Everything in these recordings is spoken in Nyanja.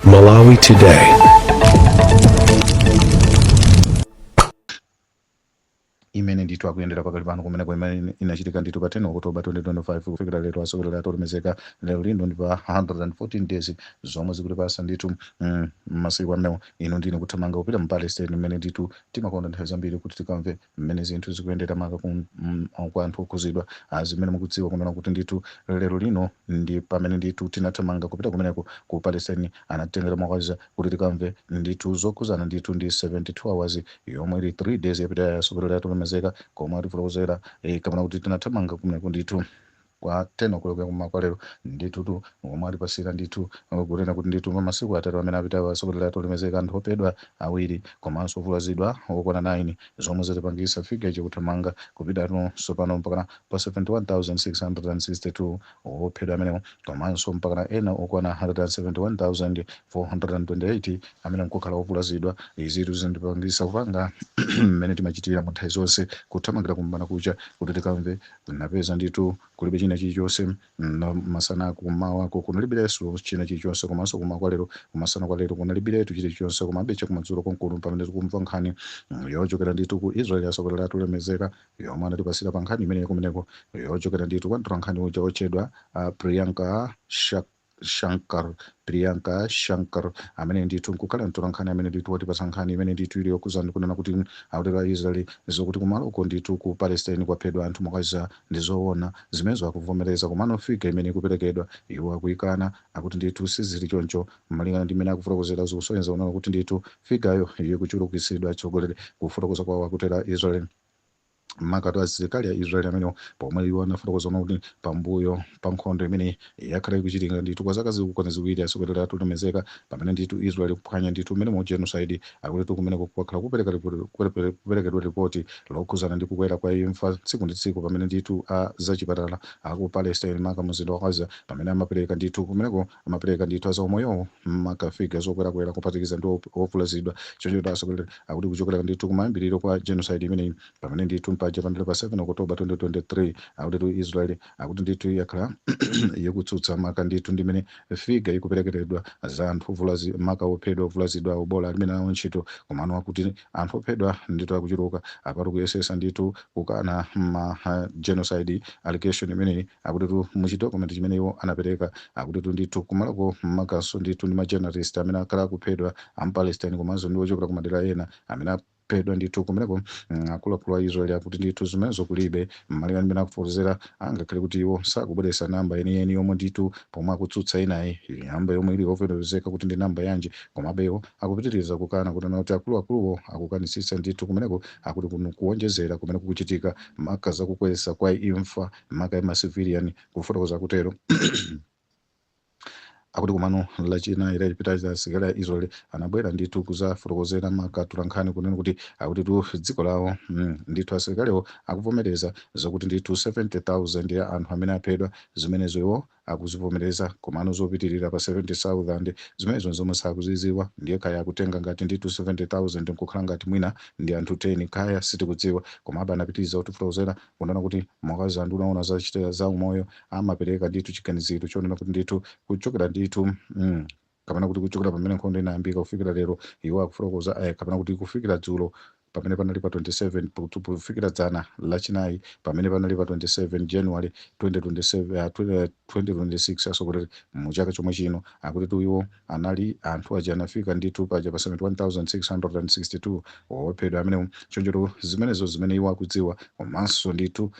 Malawi Today. imene ndithu akuyendera pakali pano kumeneko imene inachitika ndithu pa 10 oktoba 2025 kufikira lero asogoleri athu olemezeka lero lino ndi pa 114 days zomwe zikutipasa ndithu mm, masiku amenewo ino ndine kuthamanga kupita mu palestine imene ndithu timakonda nthawi zambiri kuti tikamve mmene zinthu zikuyendera maka ku- mm, kwa anthu okhuzidwa ah, zimene mukudziwa kunena kuti ndithu lero lino ndi pamene ndithu tinathamanga kupita kumeneko ku palestine anatitengera mwa Gaza kuti tikamve ndithu zokhuzana ndithu ndi 72 hours yomwe ili 3 days yapitayi asogoleri athu olemezeka komwe atifotokozera eh, kapena kuti tinathamanga kumeneko ndithu kwa 10:00 ya kum'mawa kwa lero. Ndithutu, omwe atipasira ndithu kunena kuti ndithu pa masiku atatu amene apitawa atsogoleri athu olemezeka anthu ophedwa awiri komanso ovulazidwa okwana 9 zomwe zatipangisa figure ija kuthamanga kupitatu tsopano mpakana pa 71,662 ophedwa amenewo komanso mpakana ena okwana 171,428 amene nkukhala ovulazidwa. Izitu zindipangisa kupanga mmene timachitira mu nthawi zonse kuthamangira kum'bandakucha kuti tikamve Napeza ndithu kulibe china chilichonse mma masana kummawako kunalibileso china chilichonse komanso kummawa kwa lero kumasana kwa lero kunalibiletu chilichonse komabe chakumadzulo konkuno pamene tikumva nkhani mm, yochokera ndithu ku Israel asogoleri athu olemezeka yomwe anatipasira pa nkhani imeneyo kumeneko yochokera ndithu kwa mtolankhani uja otchedwa uh, Priyanka Shak Shankar, Priyanka Shankar, amene ndithu nkukhala mtolankhani amene ndithu watipatsa nkhani imene ndithu ili yokhuza ndi kunena kuti akutero a Israel zokuti kumaloko ndithu ku Palestine kwaphedwa anthu mwa Gaza ndi zoona zimenezo akuvomereza komano figure imene ikuperekedwa iwo akuyikana akuti ndithu sizili choncho malingana ndi mmene akufotokozera zikusonyeza kunena kuti ndithu figureyo ikuchulukitsidwa atsogoleri kufotokoza kwawo akutero a Israel makatu asilikali a Israel amenewo pomwe iwo anafotokoza kunena kuti pambuyo pa nkhondo imene yakhala ikuchitika ndithu kwa zaka zikukwana ziwiri atsogoleri athu olemezeka pamene ndithu Israel kuphwanya ndithu mmene mu genocide akuti kumeneko kwakhala kupereka ripoti- kupereka- kuperekedwa ripoti lokhuzana ndi kukwera kwa imfa tsiku ndi tsiku pamene ndithu a zachipatala aku Palestine maka mzinda wa Gaza pamene amapereka ndithu kumeneko amapereka ndithu azaumoyowo makafiga zokwerakwera kuphatikiza ndi op- ovulazidwa choncho kuti asogoleri akuti kuchokera ndithu kumayambiriro kwa genocide imeneyi pamene ndithu mpaja pandale pa 7 oktoba 2023 akutitu israel akuti ndithu yakhala ikutsutsa maka ndithu ndi mmene figa ikuperekeredwa za anthu ovulazi maka ophedwa ovulazidwa awo bola alibe nawo ntchito komano akuti anthu ophedwa ndithu akuchuluka apatu kuyesesa ndithu kukana ma ha, genocide allegation imeneyi Akutitu muchite document chimene iwo anapeleka. Akutitu ndithu kumaloko makanso ndithu ndi ma journalist amene akhala akuphedwa a mpalestine komanso ndi ochokera kumadera ena amene aphedwa ndithu kumeneko. Mm, Akuluakulu a Israel akuti ndithu zimenezo kulibe. Malinga ndi mmene akufotokozera angakhale kuti iwo sakubweretsa number yeniyeni yomwe ndithu pomwe akutsutsa inayi number yomwe ili yovomerezeka kuti ndi number yanji komabe iwo akupitiriza kukana kunena kuti akuluakuluwo akukanitsitsa ndithu kumeneko akuti kuno kuwonjezera kumene kukuchitika maka za kukweza kwa imfa maka ya macivilian kufotokoza kutero akuti komano lachinayi lapitali asilikali a israel anabwera ndithu kuzafotokozera maka atolankhani kunena kuti akutitu dziko lawo mm, ndithu asilikaliwo akuvomereza zokuti ndithu 70000 ya anthu amene aphedwa zimenezo iwo akuzivomereza komano zopitirira pa 70,000 zimenezo nzomwe sakuziziwa ndiye kaya akutenga ngati ndithu 70,000 nkukhala ngati mwina ndi anthu 10 kaya sitikudziwa komabe anapitiliza kutifotokozera kunena kuti maka za a nduna oona za chita za umoyo amapereka ndithu chiganiziro chonena kuti ndithu kuchokera ndithu mm, kapena kuti kuchokera pamene nkhondo inayambika kufikira lero iwo akufotokoza eh, kapena kuti kufikira dzulo pamene panali pa 27 kutu- kufikira dzana lachinayi pamene panali pa 27 january 2027, ah, 20, eh, 2026 asogoleri mu chaka chomwe chino akutitu iwo anali anthu aja anafika ndithu paja pa 71662 ophedwa amenewo chonchotu zimenezo zimene iwo akudziwa komanso ndithu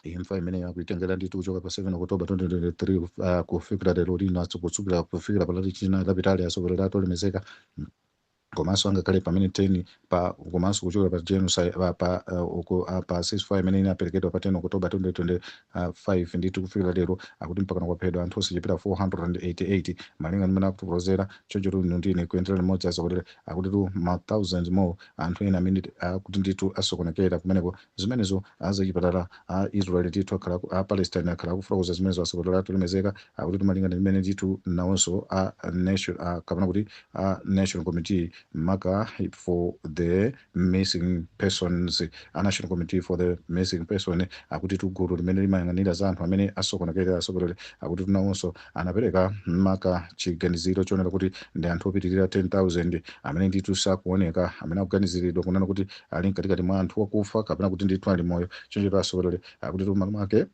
imfa imene akuitengera ndithu kuchoka pa 7 oktoba 2023 uh, kufikira lero lino kutsukira kufikira pa lachinayi lapitali atsogoleri athu olemekezeka komanso angakhale pamene 10 pa komanso kuchokera pa genocide pa pa uh, uku- uh, pa ceasefire imene inaperekedwa pa 10 oktoba 2025 ndithu kufikira lero akuti mpakana kwaphedwa anthu osachepera 488 malinga ndi mmene akutifotokozera chonchotu inu ndi ine kuyendera limodzi atsogoleri akutitu ma 1000 more anthu ena amene akuti ndithu asokonekera kumeneko zimenezo a zachipatala a Israel ndithu akhala aku- a Palestine akhala akufotokoza zimenezo asogoleri athu olemekezeka akuti malinga ndi mmene ndithu nawonso a nation a kapena kuti a national committee maka for the missing persons a national committee for the missing person akutitu gulu limene limayang'anira za anthu amene asokonekera asogoleri akutitu nawonso anapereka maka chiganiziro chonena kuti ndi anthu opitirira 10000 amene ndithu sakuoneka amene akuganiziridwa kunena kuti ali mkatikati mwa anthu wakufa kapena kuti ndithu ali moyo choncho asogoleri akutitu maka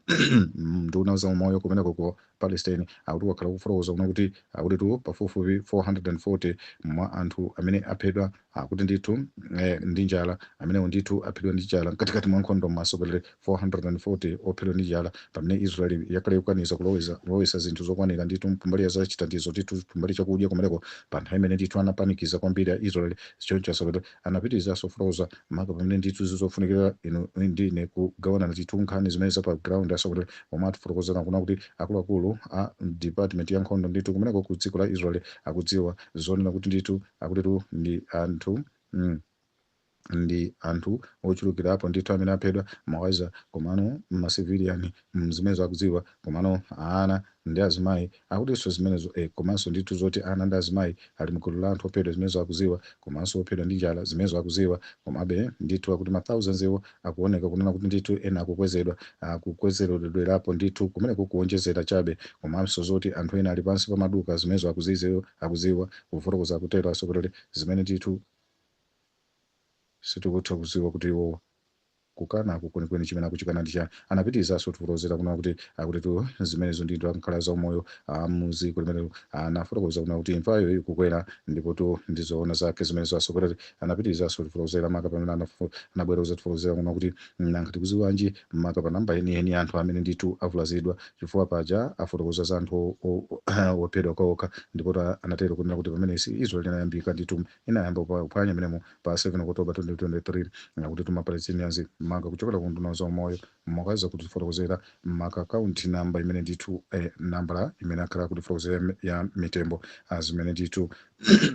unduna za umoyo kumeneko ku palestine akuti wakhala kufotokoza kunena kuti akutitu pafupifupi 440 mwa anthu amene aphedwa akuti ndithu eh, ndi njala amenewo ndithu aphedwa ndi njala mkatikati mwa nkhondo asogoleri 440 ophedwa ndi njala pamene israel yakhala ikukaniza kuloweza kulowesa zinthu zokwanira ndithu kumbali ya zachithandizo ndithu kumbali chakudya kumeneko pa nthawi imene ndithu anapanikiza kwambiri a israel choncho asogoleri Anapitilizaso kufotokoza maka pamene ndithu zofunikila inu ndi ine kugawana ndithu nkhani zimene za pa ground asogoleli omwe atifotokozela kuna kuti akuluakulu a mdipatimenti ya nkhondo ndithu kumeneko ku dziko la Israel akudziwa zoonena kuti ndithu akutitu ndi anthu mm, ndi anthu ochulukilapo ndithu amene aphedwa mwa Gaza komano ma civilian mm zimenezo akudziwa komano ana ndi azimayi akutinso zimenezo eh, komanso ndithu zoti ana ndi azimayi ali mgulu la anthu ophedwa zimenezo akuziwa komanso ophedwa ndi njala zimenezo akuziwa komabe ndithu akuti ma thousands iwo akuoneka kunena kuti ndithu ena akukwezedwa akukwezeredwerapo ndithu kumeneko kuonjezera chabe komanso zoti anthu ena ali pansi pa zigumuka zimenezo akuziziwa akuziwa kufotokoza akutero asogoleri zimene ndithu sitikutha kuziwa kuti iwowa kukanako kwenikweni chimene akuchikana ndi chani anapitirizaso kuti kulozera kuna kuti akutitu zimenezo ndithu a nkhani za umoyo a m'dziko limene anafotokoza kuna kuti imfayo ikukwera ndipo tu ndizoona zake zimenezo asogoleri anapitirizaso kutifotokozera maka pamene anafu- anabwera kuzatifotokozera kuna kuti nanga tikuziwanji maka pa namba yeniyeni anthu amene ndithu avulazidwa chifukwa paja afotokoza za anthu o- o- ophedwa okha ndipo ta- anatero kunena kuti pamene Israel inayambika ndithu inayamba kuphwanya m'menemo pa 7 October 2023 akutitu ma Palestinians maka kuchokera ku nduna zaumoyo mwa Gaza kutifotokozera maka kaunti namba imene ndithu eh, nambala imene akhala kutifotokozera ya- ya mitembo azimene ndithu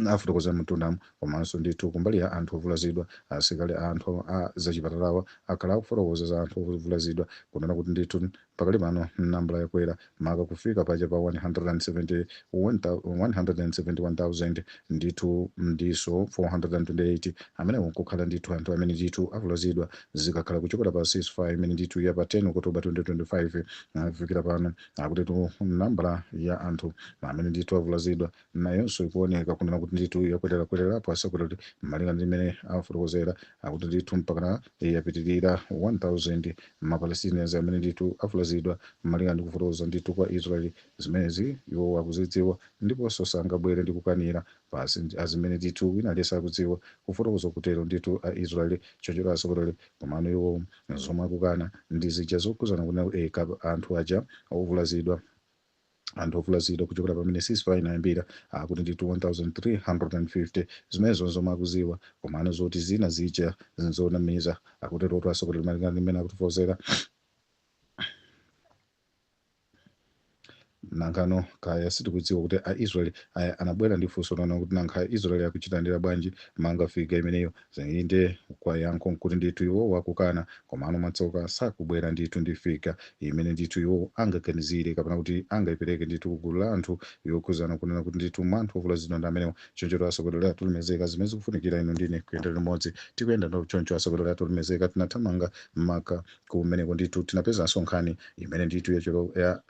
afotokozera m'mtundamu komanso ndithu kumbali ya anthu ovulazidwa asikali anthu a zachipatalawa akhala akufotokoza za anthu ovulazidwa kunena kuti ndithu Pakali pano, nambala yakwera maka kufika paja pa 171, 171,000 ndithu ndiso 428 amenewo nkukhala ndithu anthu amene ndithu avulazidwa zikakhala kuchokera pa ceasefire imene ndithu ya pa 10 October 2025 kufikira pano akutitu nambala ya anthu amene ndithu avulazidwa nayonso ikuoneka kunena kuti ndithu yakwererakwererapo asogoleri kuti malinga ndi mmene afotokozera akuti ndithu mpakana yapitirira 1000 mapalestinians amene ndithu avulazidwa malinga ndi kufotokoza ndithu kwa israel zimenezi iwo akuzidziwa ndiponso sangabwere ndi kukanira pansi ndi- azimene ndithu wina aliyense akudziwa kufotokoza kutero ndithu a israel choncho asogoleri komano iwo zomwe akukana ndi zija zokhudzana kunena kuti eh, kab- anthu aja ovulazidwa Anthu ovulazidwa kuchokera pamene ceasefire inayambira akuti ndithu 1,350. Zimenezo n'zomwe akudziwa, komano zoti zina zija n'zonamiza, akuterotu atsogoleri malingana ndi mmene akutifotokozera. Nangano kaya sitikudziwa kuti a Israel aya anabwera ndi funso lonena kuti nanga Israel akuchilandira bwanji maka figa imeneyo Inde, kwa yankho nkuti ndithu iwo wakukana, komano mwatsoka sakubwera ndithu ndi figure imene ndithu iwo angaganizire kapena kuti angaipereke ndithu ku gulu la anthu yokhuzana nkunena kuti ndithu mwa anthu ovulazidwa ndi amenewa. Chonchotu atsogoleri athu olemezeka zimene zikufunikira inu ndi ine kuyenda limodzi. Tikuyenda ndo choncho atsogoleri athu olemezeka tinathamanga mmaka kumeneko ndithu tinapezanso nkhani imene ndithu ya cholo ya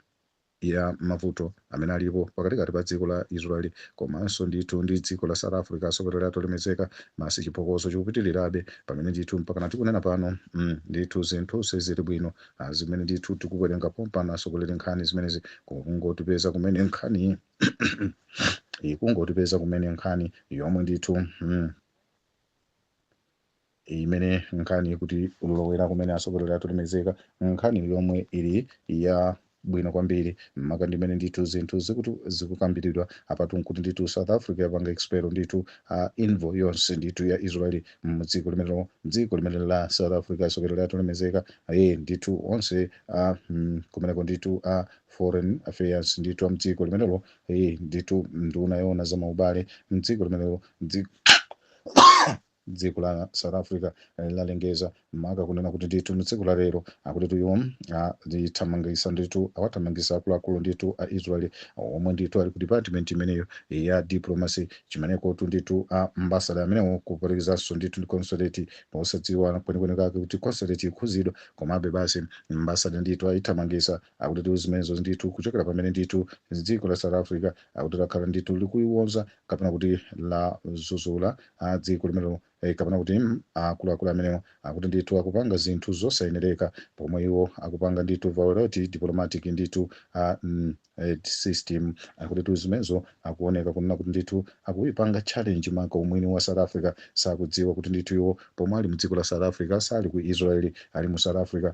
ya mavuto amene alipo pakatikati pa dziko la Israel komanso ndithu ndi dziko la South Africa atsogoleri athu olemezeka masi chiphokoso chikupitirirabe pamene ndithu mpakana tikunena pano mm, ndithu zinthu sizili bwino ah, zimene ndithu tikuwerenga pompano atsogoleri nkhani zimenezi kungotipeza kumene nkhani ikungotipeza kumene nkhani yomwe ndithu mm, imene nkhani ikutilowera kumene atsogoleri atolemezeka nkhani yomwe ili ya bwino kwambiri maka ndimene ndithu zinthu zikutu zikukambiridwa apatu nkuti ndithu south africa yapanga expel ndithu envoy yonse ndithu ya Israel mdziko limenelo dziko limene la south africa atsogoleri atolemezeka aye ndithu onse a mm, kumeneko ndithu a foreign affairs ndithu a mdziko limenelo aye ndithu nduna yoona za maubale mdziko limenelo dzi- dziko la south africa eh, lalengeza maka kunena kuti ndithu mtsiku la lero akutitu iwo lithamangisa ndithu awathamangisa akuluakulu ndithu a israel omwe ndithu ali ku department imeneyo ya diplomacy chimenekotu ndithu a ambasada amenewo kuphatikizanso ndithu ndi consulate posadziwa kwenikweni kake kuti consulate ikhuzidwa komabe basi ambasada ndithu ayithamangisa akutitu zimenezo ndithu kuchokera pamene ndithu dziko la south africa akuti lakhala ndithu likuiwonza kapena kuti ladzudzula a dziko limenelo eh, kapena kuti mm, akuluakulu amenewo akuti ndithu akupanga zinthu zosayenereka pomwe iwo akupanga ndithu violate diplomatic ndithu a mm, eh, system akutitu zimenezo akuoneka kunena kuti ndithu akuipanga challenge maka umwini wa south africa sakudziwa kuti ndithu iwo pomwe ali mdziko la south africa sali ku israel ali mu south africa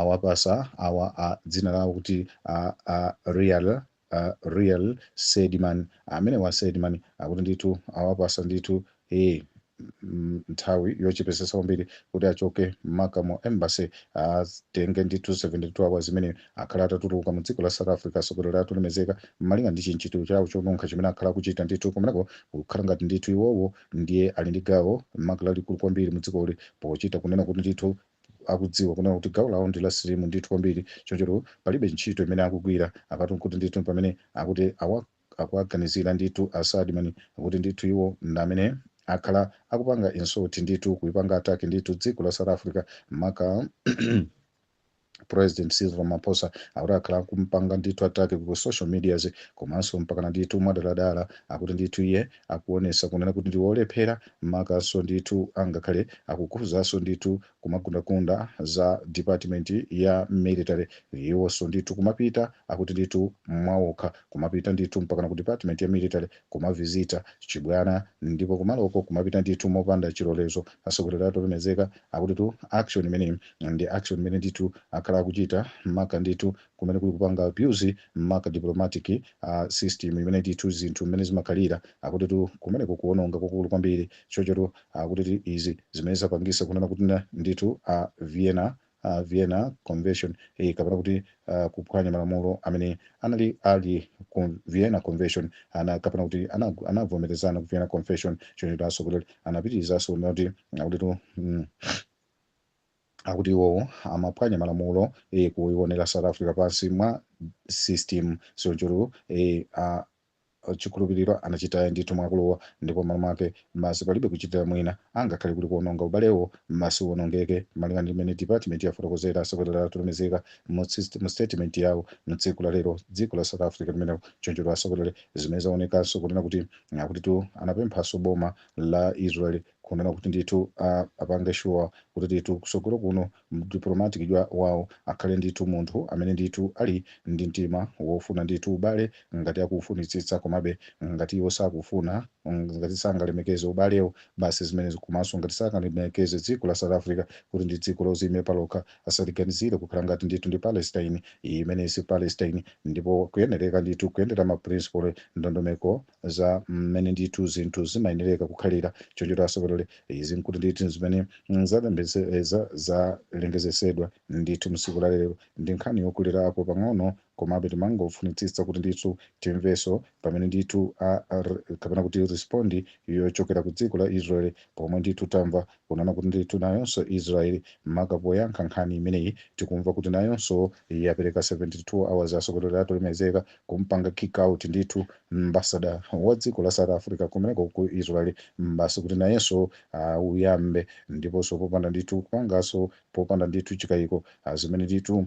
awapasa awa a dzina lawo kuti a, Ariel Ariel Seidman amenewa Seidman akuti ndithu awapasa ndithu e nthawi yochepesesa kwambiri kuti achoke maka mu embassy atenge ndithu 72 hours imene akhale atatuluka mu dziko la south africa atsogoleri athu olemezeka malinga ndi chimchitiro chawo chonunkha chimene akhala akuchita ndithu kumeneko kukhala ngati ndithu iwowo ndiye ali ndi gawo maka lalikulu kwambiri mu dzikoli pochita kunena kuti ndithu akudziwa kunena kuti gawo lawo ndi la slim ndithu kwambiri choncho palibe ntchito imene akugwira apatu nkuti ndithu pamene akuti awa akuwaganizira ndithu a Seidman kuti ndithu iwo ndi amene akhala akupanga insult ndithu kuipanga attack ndithu dziko la south africa maka president cyril ramaphosa akuti akhala akumpanga ndithu attack ku social medias komanso mpakana ndithu mwadaladala akuti ndithu iye akuonesa kunena kuti ndi olephera makanso ndithu angakhale akukhuzanso ndithu kumagundagunda za department ya military iwonso ndithu kumapita akuti ndithu mwaokha kumapita ndithu mpakana ku department ya military kumavizita chibwana ndipo kumaloko kumapita ndithu mopanda chilolezo atsogoleri atolemezeka akuti tu action imeneyi ndi action imene ndithu akhala akuchita maka ndithu kumene kuli kupanga abuse maka diplomatic system imene ndithu zinthu mmene zimakhalira akutitu kumeneku kuononga kwakukulu kwambiri chonchotu akutitu izi zimene zapangisa kunena kuti na- ndithu a vienna a vienna convention eh, kapena kuti uh, kuphwanya malamulo amene anali ali ku vienna convention ana kapena kuti ana- anavomerezana ku vienna convention chonchotu asogoleli anapitirizaso kunena kuti akutitu mm, akuti iwowo amaphwanya malamulo eh, kuionera south africa pansi mwa system chonchotu eh, a chikhulupiriro anachita ndithu mwakuluwa ndipo malo mwake basi palibe kuchitira mwina angakhale kuti kuononga ubalewo basi uonongeke malinga ndi mmene department yafotokozera asogoleri atolemezeka mu tsist- mu statement yawo mu tsiku la lero dziko la south africa limenelo choncho asogoleri zimene zaonekanso kunena kuti akuti tu anapemphanso boma la israel kunena kuti ndithu a, apange sure kuti ndithu kusogolo kuno mdiplomatic wawo akhale ndithu munthu amene ndithu ali ndi mtima wofuna ndithu ubale ngati akufunitsitsa komabe ngati iwo sakufuna mm, ngati sangalemekeze ubalewo basi zimene komanso ngati sangalemekeze dziko la south africa kuti ndi dziko loziyimira palokha asaliganizire kukhala ngati ndithu ndi palestine imene si palestine ndipo kuyenereka ndithu kuyendera maprinciple ndondomeko za mmene ndithu zinthu zimayenereka kukhalira chonchotu asogoleri izi nkuti ndithu zimene mm, zalembetse- eh, za- zalengezesedwa ndithu msiku la lero ndi nkhani yokulirapo pang'ono komabe timangofunitsitsa kuti ndithu timveso pamene ndithu a- a- r- kapena kuti respondi yochokera ku dziko la israel pomwe ndithu tamva Kunena kuti ndithu nayonso Israel maka poyankha nkhani imeneyi tikumva kuti nayonso yapereka 72 hours asogoleri atolemezeka kumpanga kick out ndithu ambassador wa dziko la South Africa kumeneko ku Israel basi kuti nayenso auyambe ndiponso popanda ndithu kupanganso popanda ndithu chikayiko zimene ndithu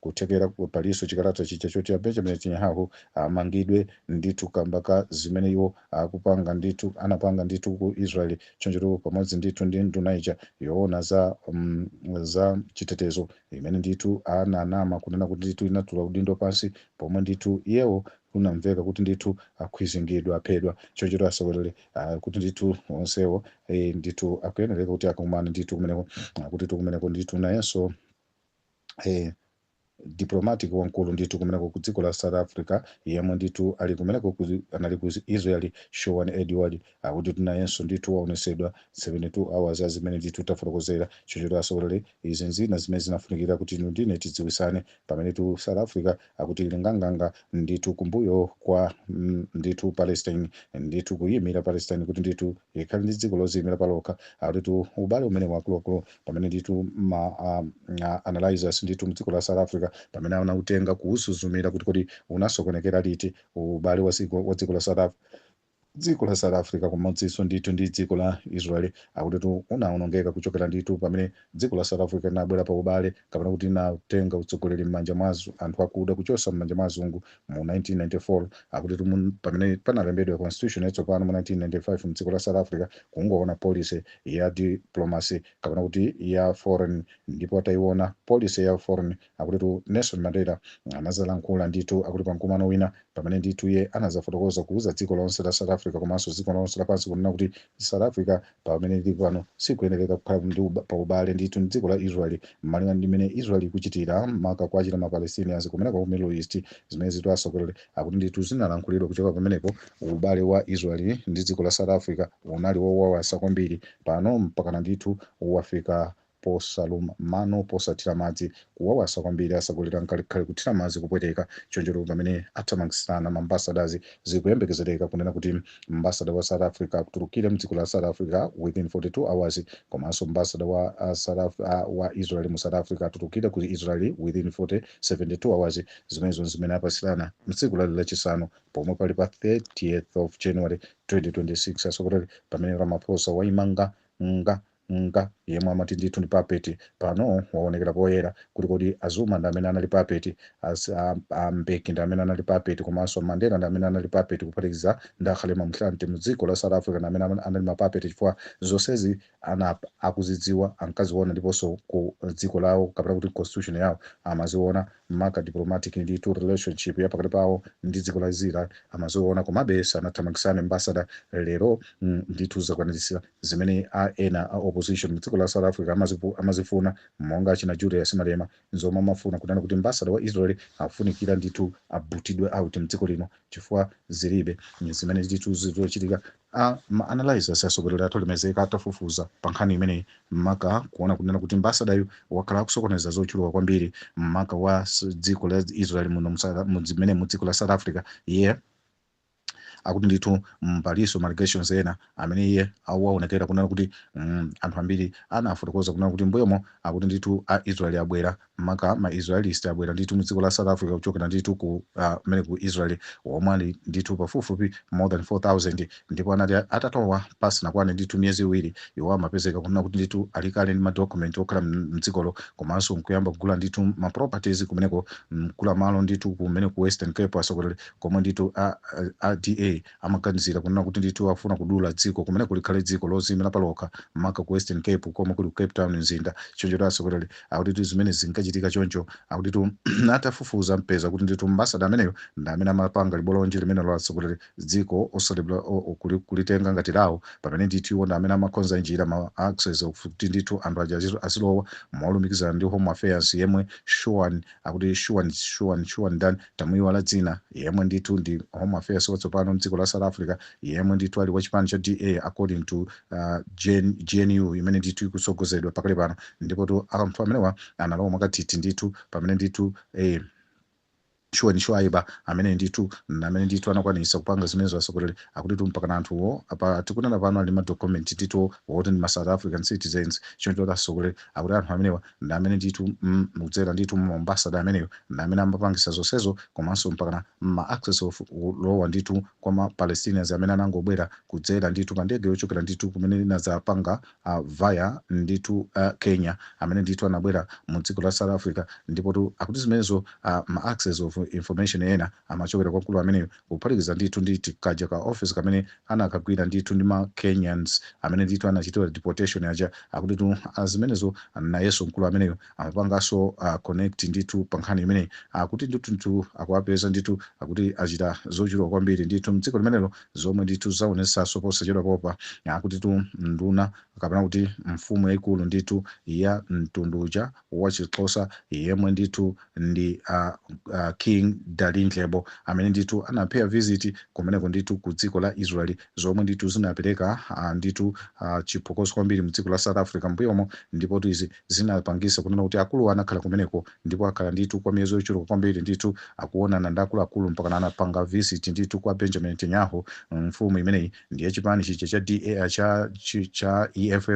Kuthekera palinso chikalata chija choti a Benjamin Netanyahu amangidwe ndithu kamba ka zimene iwo akupanga ndithu, anapanga ndithu ku Israel chonchotu pamodzi ndithu ndi nduna ija yoona za um, za chitetezo imene ndithu ananama kunena kuti ndithu inatula udindo pansi pomwe ndithu iyewo kunamveka kuti ndithu akhwizingidwa aphedwa chonchotu asogoleri uh, kuti ndithu onsewo eh, ndithu akuyenereka kuti akakumane ndithu kumeneko uh, kuti tu kumeneko ndithu nayenso eh, diplomatic wamkulu ndithu kumeneko ku dziko la south africa yemwe ndithu ali kumeneko ku- anali ku israel shaun edward akutitu nayenso ndithu waonesedwa 72 hours ah zimene ndithu tafotokozera chonchotu atsogoleri izi nzina zimene zinafunikira kuti inu ndine tidziwisane pamene tu south africa akuti ili nganganga ndithu kumbuyo kwa mm, ndithu palestine ndithu kuimira palestine kuti ndithu ikhale ndi dziko loziyimira palokha akutitu ubale umene wakuluakulu pamene ndithu ma um, a- analyzers ndithu mdziko la south africa pamene anautenga kuusuzumira kuti kodi unasokonekera liti ubale wa dziko wa dziko la south africa dziko la south africa pamodzinso ndithu ndi dziko la israel akutitu unawonongeka kuchokera ndithu pamene dziko la south africa linabwera pa ubale kapena kuti linatenga utsogoleri m'manja mwa azu- anthu akuda kuchotsa m'manja mwa azungu mu 1994 akutitu mun- pamene panalembedwa constitution yatsopano mu 1995 mdziko la south africa kuunikaona policy ya diplomacy kapena kuti ya foreign ndipo atayiona policy ya foreign Akutitu Nelson Mandela anazalankhula ndithu akuti pa mkumano wina pamene ndithu iye anazafotokoza kuuza dziko lonse la South Africa komanso dziko lonse lapansi kunena kuti South Africa pamene lili pano sikuyenereka kukhala ndi uba- pa ubale ndithu ndi dziko la Israel malinga ndi mmene Israel ikuchitira maka kuwachita ma Palestinians kumeneko ku Middle East zimene zitu atsogoleri akuti ndithu zinalankhulidwa kuchoka pamenepo ubale wa Israel ndi dziko la South Africa unali wowawasa kwambiri pano mpakana ndithu wafika posaluma mano posathira madzi kuwawasa kwambiri atsogoleri nkalikhale kuthira madzi kupweteka chonchotu pamene athamangitsirana ma ambassadors zikuyembekezereka kunena kuti ambassador wa south africa atulukire mdziko la south africa within 42 hours komanso ambassador wa uh, south Af uh, wa israel mu south africa atulukire ku israel within 40 72 hours zimenezo nzimene apatsirana mtsiku lali lachisanu pomwe pali pa 30th of january 2026 atsogoleri pamene ramaphosa waimanga nga Nga yemwe amati ndithu ndi puppet pano wawonekera poyera kuti kodi a Zuma ndi amene anali puppet, a, a, a Mbeki ndi amene anali puppet komanso Mandela ndi amene anali puppet kuphatikiza ndi a Kgalema Motlanthe mu dziko la South Africa ndi amene ama- anali ma puppet chifukwa zonsezi ana akuzidziwa ankaziona ndiponso ku dziko lawo kapena kuti constitution yawo amaziona maka diplomatic ndithu relationship ya pakati pawo ndi dziko la Israel amaziona komabe sanathamangitsane ambassador lero mm, ndithu zakwaniritsa Zimene a ena a opposition mu dziko la South Africa amazifuna monga achina Julius Malema nzomwe amafuna kunena kuti mbasada wa Israel akufunikira ndithu abutidwe out mdziko lino chifukwa zilibe zimene ndithu zikuchitika. A ma analysers atsogoleri athu alemezeka atafufuza pa nkhani imeneyi maka kuona kunena kuti mbasadayu wakhala akusokoneza zochuluka kwambiri maka wa dziko la Israel muno mdzimene mu dziko la South Africa iye akuti ndithu mm, palinso ma allegations ena amene iye awaonekera kunena kuti mm, anthu ambiri anafotokoza kunena kuti mbuyomo akuti ndithu a israeli abwera maka ma israelist abwera ndithu mu dziko la south africa kuchokera ndithu ku ah, kumene ku israeli omwe ali ndithu pafupifupi more than 4000 ndipo anati atatowa pasanakwane ndithu miyezi iwiri iwo amapezeka kunena kuti ndithu ali kale ndi madocument okhala m- mdzikolo komanso nkuyamba kugula ndithu ma properties kumeneko nkugula malo ndithu kumene ku western cape asogoleri Komwe ndithu a a DA amaganizira kunena kuti ndithu akufuna kudula dziko kumeneko likhale dziko loziimira palokha maka ku Western Cape komwe kuli ku Cape Town mzinda. Chonchotu atsogoleri akutitu zimenezi zinkachitika choncho akutitu atafufuza mpeza kuti ndithu ambassador ameneyo ndi amene amapanga libolonje limenelo la atsogoleri dziko osati bla- o- o- kuli- kulitenga ngati lawo pamene ndithu iwo ndi amene amakonza njira ma access kuti ndithu anthu aja azizo- azilowa molumikizana ndi Home Affairs yemwe Shawn akuti Shawn Shawn Shawn ndani tamuyiwala dzina, yemwe ndithu ndi Home Affairs watsopano mdziko la South Africa, yemwe ndithu ali wachipani cha DA according to uh, GNU imene ndithu ikutsogozedwa pakali pano, ndipotu anthu amenewa analowa mwakathithi ndithu pamene ndithu eh, Shawn Schreiber amene ndithu amene ndithu anakwanisa kupanga zimenezo asogoleri akutitu mpaka anthuwo apa tikunena pano ali madokumenti ndithu woti ndi ma south african citizens choncho kuti asogoleri akuti anthu amenewa ndi amene ndithu mm, mukudzera ndithu mu ambassador ameneyo ndi amene amapangisa zonsezo komanso mpakana ma access of kulowa ndithu kwa ma palestinians amene anangobwera kudzera ndithu pa ndege yochokera ndithu kumene inadzapanga uh, via ndithu uh, kenya amene ndithu anabwera mu dziko la south africa ndipotu akuti zimenezo uh, ma access of information ena amachokera kwa mkulu ameneyo kuphatikiza ndithu ndi ti kaja ka office kamene anakagwira ndithu ndi ma Kenyans amene ndithu anachitidwa deportation aja akutitu ah, zimenezo nayenso mkulu ameneyo amapanganso ah, connect ndithu pa nkhani imeneyi akuti ndithu ndithu akuwapeza ndithu akuti achita zochuluka kwambiri ndithu mdziko limenelo zomwe ndithu zaonetsanso posachedwapa apa akutitu nduna kapena kuti mfumu yayikulu ndithu ya mtundu uja wachixhosa yemwe ndithu ndi a, a king dalindyebo amene ndithu anapaya visit kumeneko ndithu ku dziko la israel zomwe ndithu zinapereka ah, ndithu ah, chiphokoso kwambiri mdziko la south africa mbuyomo ndipotu izi zinapangisa kunena kuti akulu anakhala kumeneko ndipo akhala ndithu kwa miyezi yochuluka kwambiri ndithu akuonana ndi akuluakulu mpaka anapanga visit ndithu kwa benjamin netanyahu mfumu imeneyi ndi ya chipani chija cha da cha, chi- cha eff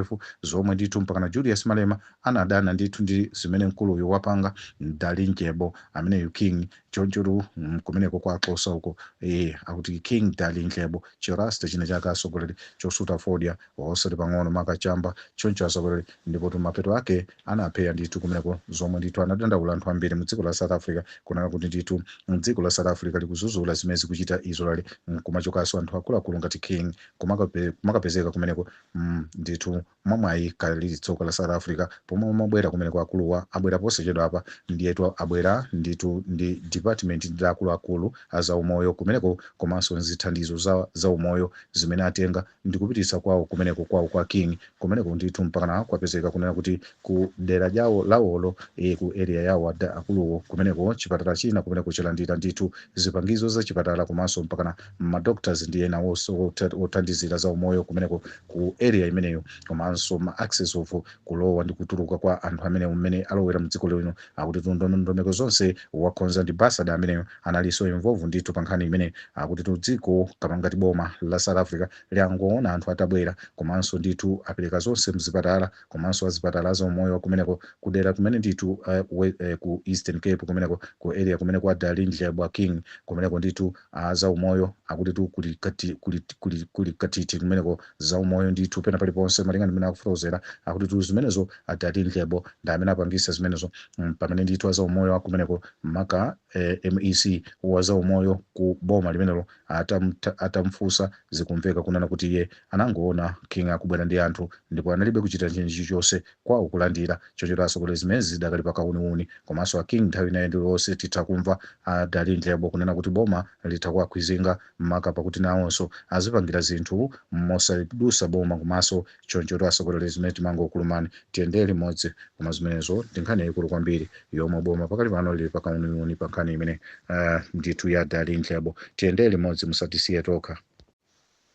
zomwe ndithu mpakana julius malema Anadana ndithu ndi zimene mkuluyu wapanga Dalindyebo ameneyu King chonchotu mm kumeneko kwa Xhosa uko ee akuti King Dalindyebo chi Rasta china chake asogoleri chosuta fodya osati pang'ono maka chamba choncho asogoleri ndipotu mapeto ake anapeya ndithu kumeneko zomwe ndithu anadandaula anthu ambiri mu dziko la South Africa kunena kuti ndithu dziko la South Africa likuzuzula zimene zikuchita Israel mm kumachokanso anthu akuluakulu ngati King kumakape, kumakapezeka kumeneko mm ndithu Mwa mwayi kaya lili tsoka la South Africa pomwe amabwera kumeneko akuluwa abwera posachedwapa ndiyetu abwera ndithu ndi department ndi akuluakulu a za umoyo kumeneko komanso nzithandizo za za umoyo zimene atenga ndikupititsa kwawo kumeneko kwawo kwa king kumeneko ndithu mpakana kwapezeka kunena kuti ku dera lyawo lawolo eh, ku area yawo ada akuluwo kumeneko chipatala china kumeneko chalandira ndithu zipangizo za chipatala komanso mpakana ma doctors ndi ena wos- wotha- wothandizira za umoyo kumeneko ku area imeneyo komanso ma access of kulowa ndi kutuluka kwa anthu amene mmene alowera mdziko lino akutitu ndondomeko zonse wakhonza ndi ambassador ameneyo analinso involve ndithu pa nkhani imene akutitu dziko kapena ngati boma la south africa linangoona anthu atabwera komanso ndithu apereka zonse mzipatala komanso azipatala za umoyo wa kumeneko kudera kumene ndithu uh, we, uh, ku eastern cape kumeneko ku area kumene kwa Dalindyebo king kumeneko ndithu A zaumoyo akutitu kuli kati, kuli, kuli, kuli kathithi kumeneko, zaumoyo ndithu pena paliponse malinga ndi mmene akufotokozera akutitu zimenezo a Dalindyebo ndi amene apangisa zimenezo pamene ndithu a zaumoyo akumeneko maka eh, mec wa zaumoyo ku boma limenelo atam, atamfusa zikumveka kunena kuti iye anangoona King akubwera ndi anthu ndipo analibe kuchita china chilichonse koma kulandira. Chonchotu atsogoleri zimenezi zidakali pa kawuniwuni. Komanso a King nthawi ina iliyonse titha kumva a Dalindyebo kunena kuti boma litha kuwakhwizinga maka pakuti nawonso azipangira zinthu mosadusa boma komanso chonchotu atsogoleri zimene timangokulumani tiyendere limodzi koma zimenezo ndi nkhani yayikulu kwambiri yomwe boma pakali pano lili pa kawuniwuni pa nkhani imene ah, ndithu ya Dalindyebo tiyendere limodzi musatisiye tokha.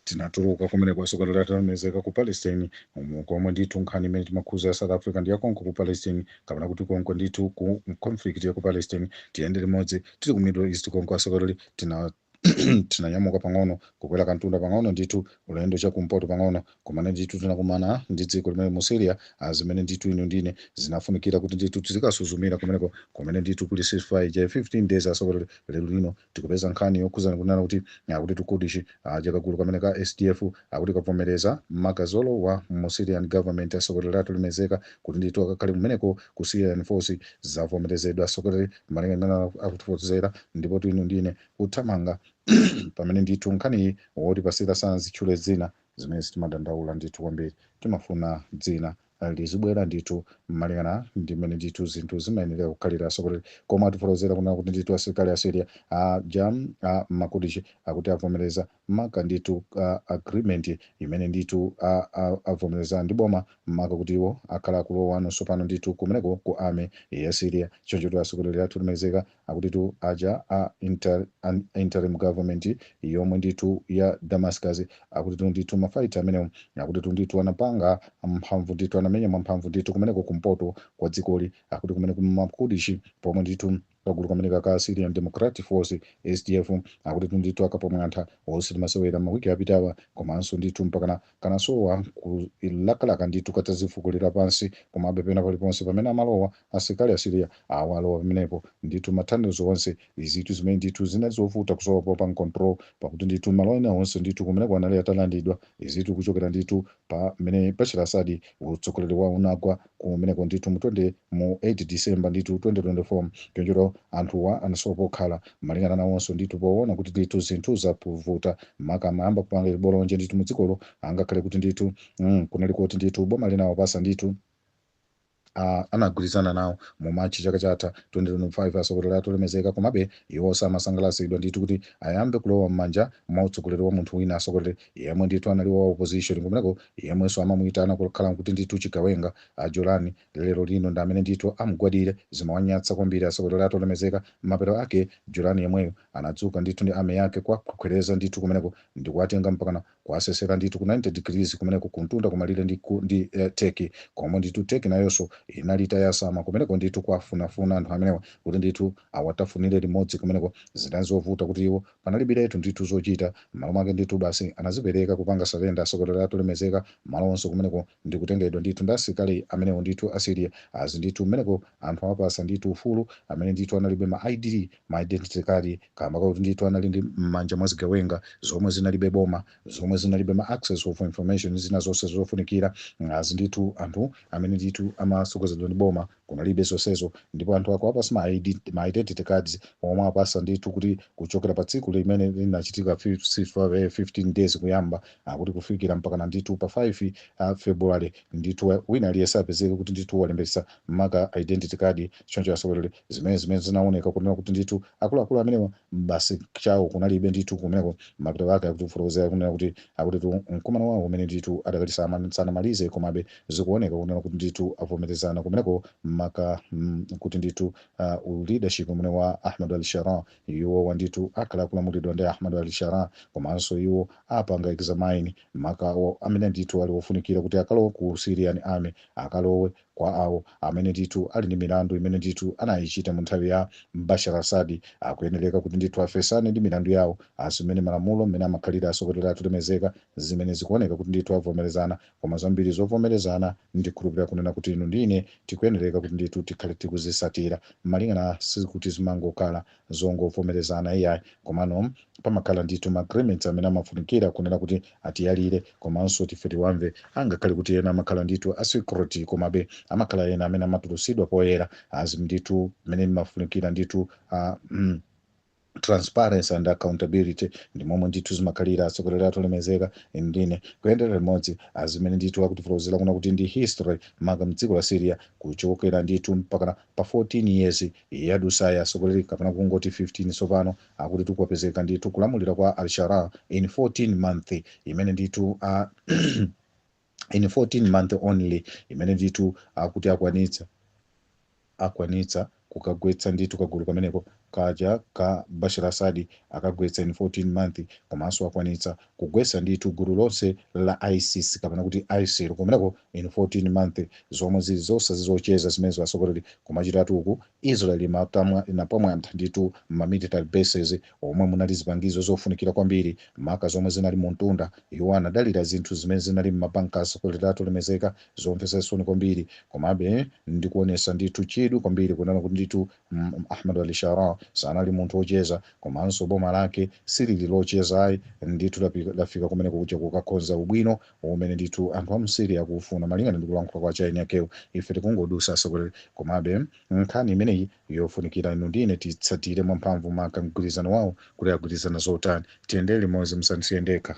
Tinatuluka kumeneko asogoleri athu olemekezeka ku Palestine umu komwe ndithu nkhani imene timakhuza ya South Africa ndi yakonko ku Palestine kapena kuti konko ndithu ku conflict ya ku Palestine tiyende limodzi tili ku Middle East konko asogoleri tina tinanyamuka pang'ono kukwera kantunda pang'ono ndithu ulendo chakumpoto pang'ono Komano ndithu tinakumana ndi dziko limene mu Syria, a zimene ndithu inu ndi ine zinafunikira kuti ndithu tizikasuzumira kumeneko, kumene ndithu kuli ceasefire ija ya 15 days asogoleli. Lero lino tikupeza nkhani yokhuzana kunena kuti akutitu Kurdish aja kagulu kamene ka SDF akuti kavomereza maka zolowa mu Syrian government asogoleli athu olemekezeka kuti ndithu akakhale kumeneko ku Syrian force zavomerezedwa asogoleli malinga ndi mmene akutifotokozera ndipotu inu ndi ine kuthamanga pamene ndithu nkhaniyi wotipasira sanazitchule dzina zimenezi timadandaula ndithu kwambiri timafuna dzina lizibwera ndithu malingana ndi mmene ndithu zinthu zimayenera kukhalira atsogoleri koma atifotokozera kunena kuti ndithu asilikali a syria aja a makudishi akuti avomereza maka ndithu a agreement imene ndithu a- a- avomereza ndi boma maka kuti iwo akhala akulowano tsopano ndithu kumeneko ku army ya syria choncho kuti atsogoleri athu olemekezeka Akutitu aja a inter, an interim government yomwe ndithu ya Damascus akutitu ndithu ma fighter amenewo akutitu ndithu anapanga mphamvu ndithu anamenya mwamphamvu ndithu kumeneko kumpoto kwa dzikoli akuti kumeneku ma Kurdishi pomwe ndithu kagulu kameneka ka Syrian Democratic Force SDF akutitu ndithu akapamwantha osati masewera mawiki apitawa komanso ndithu mpakana kanasowa kolakalaka ndithu katadzifukulira pansi komabe pena paliponse pamene amalowa asilikali a Syria awa alowa pamenepo ndithu ma tunnels onse izitu zimene ndithu zinali zovuta kusowa popanga control pakuti ndithu malo ena onse ndithu kumeneko anali atalandidwa izitu kuchokera ndithu pamene Bashar Assad utsogoleri wawo unagwa kumeneko ndithu mu 20 mu 8 December ndithu 2024 chonchotu anthuwa anasowa pokhala malingana nawonso ndithu poona kuti ndithu zinthu zavuta maka amayamba kupanga chibolonje ndithu mu dzikolo angakhale kuti ndithu mm, kunali kuti ndithu boma linawapatsa ndithu uh, anagwirizana nawo mu machi chaka chatha 2025 atsogoleri athu olemekezeka komabe iwo samasangalatsidwa ndithu kuti ayambe kulowa m'manja mwa utsogoleri wa munthu wina atsogoleri yemwe ndithu anali wa opposition kumeneko yemwenso amamuitana kukhala kuti ndithu chigawenga a Jolani lero lino ndi amene ndithu amgwadire zimawanyatsa kwambiri atsogoleri athu olemekezeka mapeto ake Jolani yemweyo anadzuka ndithu ndi army yake kuwakhwereza ndithu kumeneko ndi kuwatenga mpakana kuwasesera ndithu ku 90 degrees kumeneko kumtunda kumalire ndi, ku, ndi eh, Turkey komwe ndithu Turkey nayonso inali itayasama kumeneko ndithu kuwafunafuna anthu amenewa kuti ndithu awatafunire limodzi kumeneko zinali zovuta kuti iwo Panalibiretu ndithu zochita, m'malo mwake ndithu basi anazipereka kupanga surrender atsogoleri athu olemekezeka, malo onse kumeneko ndi kutengedwa ndithu ndi asilikali amenewo ndithu a Syria, as ndithu kumeneko anthu awapatsa ndithu ufulu amene ndithu analibe ma ID, ma identity card, kamba kakuti ndithu anali ndi m'manja mwa zigawenga zomwe zinalibe boma, zomwe zinalibe ma access of information ndi zina zonse zofunikira, as ndithu anthu amene ndithu amatsogozedwa ndi boma, Kunalibe zonsezo ndipo anthu akuwapatsa ma ID, ma identity cards awapatsa ndithu kuti kuchokera pa tsiku limene linachitika 15 days kuyamba akuti kufikira mpakana ndithu pa 5 February ndithu wina aliyense apezeke kuti ndithu walembetsa maka identity card choncho atsogoleri zimene zimene zinaoneka kunena kuti ndithu akuluakulu amenewa basi chawo kunalibe ndithu kumeneko mapeto ake akutifotokozera kunena kuti akutitu mkumano wawo umene ndithu adakali sama- sanamalize komabe zikuoneka kunena kuti ndithu avomerezana kumeneko maka mm, kuti ndithu uh, u leadership umene wa ahmad al sharaa iwowa ndithu akhala akulamulidwa ndi ahmad al sharaa komanso iwo apanga examine maka awo amene ndithu ali ofunikira kuti akalowe ku syrian army akalowe Kwa awo amene ndithu ali ndi milandu imene ndithu anayichita mu nthawi ya Bashar al-Assad, akuyenereka kuti ndithu afesane ndi milandu yawo, as mmene malamulo mmene amakhalira atsogoleri athu olemezeka, zimene zikuoneka kuti ndithu avomerezana, koma zambiri zovomerezana ndikhulupirira kunena kuti inu ndi ine tikuyenereka kuti ndithu tikhale tikuzisatira, malingana sikuti zimangokhala zongovomerezana iyayi komano pamakhala ndithu ma agreements amene amafunikira kunena kuti atiyalire komanso tife tiwamve angakhale kuti ena amakhala ndithu a secret komabe amakhala ena amene amatulusidwa poyera as ndithu mmene imafunikira ndithu ah, mm, transparency and accountability ndi momwe ndithu zimakhalira atsogoleri athu olemezeka ndine kuyendera limodzi as mmene ndithu akutifotokozera kunena kuti ndi history maka mdziko la syria kuchokera ndithu mpakana pa 14 years Yadusayi asogoleri kapena kungoti 15 tsopano akutitu kwapezeka ndithu kulamulira kwa Al Sharaa in 14 month imene ndithu aah in 14 month only imene ndithu akuti akwanitsa akwanitsa kukagwetsa ndithu kagulu kameneko kaja ka Bashar Assad akagwetsa in 14 month komanso akwanitsa kugwesa ndithu gulu lonse la isis kapena kuti isil kumeneko in 14 month zomwe zili zosa si zocheza zimenezo asogoleri kumachitatu uku israel imatamwa inapwamwantha ndithu ma military bases omwe munali zipangizo zofunikira kwambiri maka zomwe zinali mu mtunda iwo anadalira zinthu zimene zinali mma bunker asogoleri athu olemezeka zomvesa chisoni kwambiri komabe ndikuonesa ndithu chidwi kwambiri kunena kuti ndithu mm, ahmad al sharaa sanali munthu wocheza komanso boma lake silili locheza ayi ndithu lapi- lafika kumene kuja kukakonza ubwino umene ndithu anthu a mu syria akuufuna malingana ndi kulankhula kwa chaini yakewo ife tikungodusa asogoleri komabe nkhani imeneyi yofunikira inu ndine titsatire mwamphamvu maka mgwirizano wawo kuti agwirizana zotani tiyendere limodzi musanisiye ndekha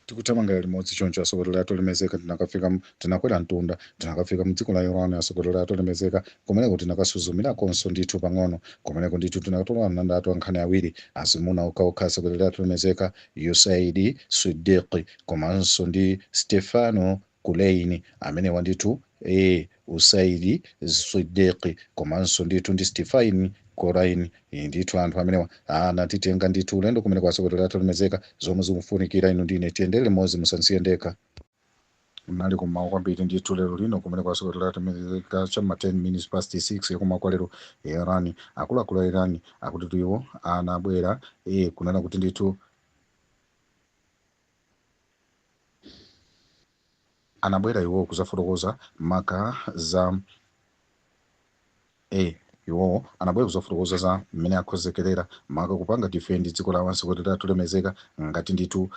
Tikuthamangira limodzi choncho atsogoleri athu olemezeka tinakafika tinakwera mtunda, tinakafika m'dziko la Iran atsogoleri athu olemezeka, kumeneko tinakasuzumirakonso ndithu pang'ono, kumeneko ndithu tinakatola ananda athu ankhani awiri, azimuna okhaokha atsogoleri athu olemezeka, Usaid Siddiqui, komanso ndi Stefano, Kulein amenewa ndithu ee Usaidi Siddiq komanso ndithu ndi Stifain Korain Ee, ndithu anthu amenewa anatitenga ndithu ulendo kumene kwa asogolero athu olemezeka zomwe zikufunikira inu ndine tiyendere limodzi musansiye ndekha munali kummawa kwambiri ndithu lero lino kumene kwa asogolero athu olemezeka cha ma 10 minutes past 6 yakummawa kwa lero iran akuluakulu a iran akuti iwo anabwera ee kunena kuti ndithu anabwera iwo kudzafotokoza maka za a. Iwo anabwera kudzafotokoza za mmene akhozekerera maka kupanga defend dziko lawo atsogoleri athu olemezeka ngati ndithu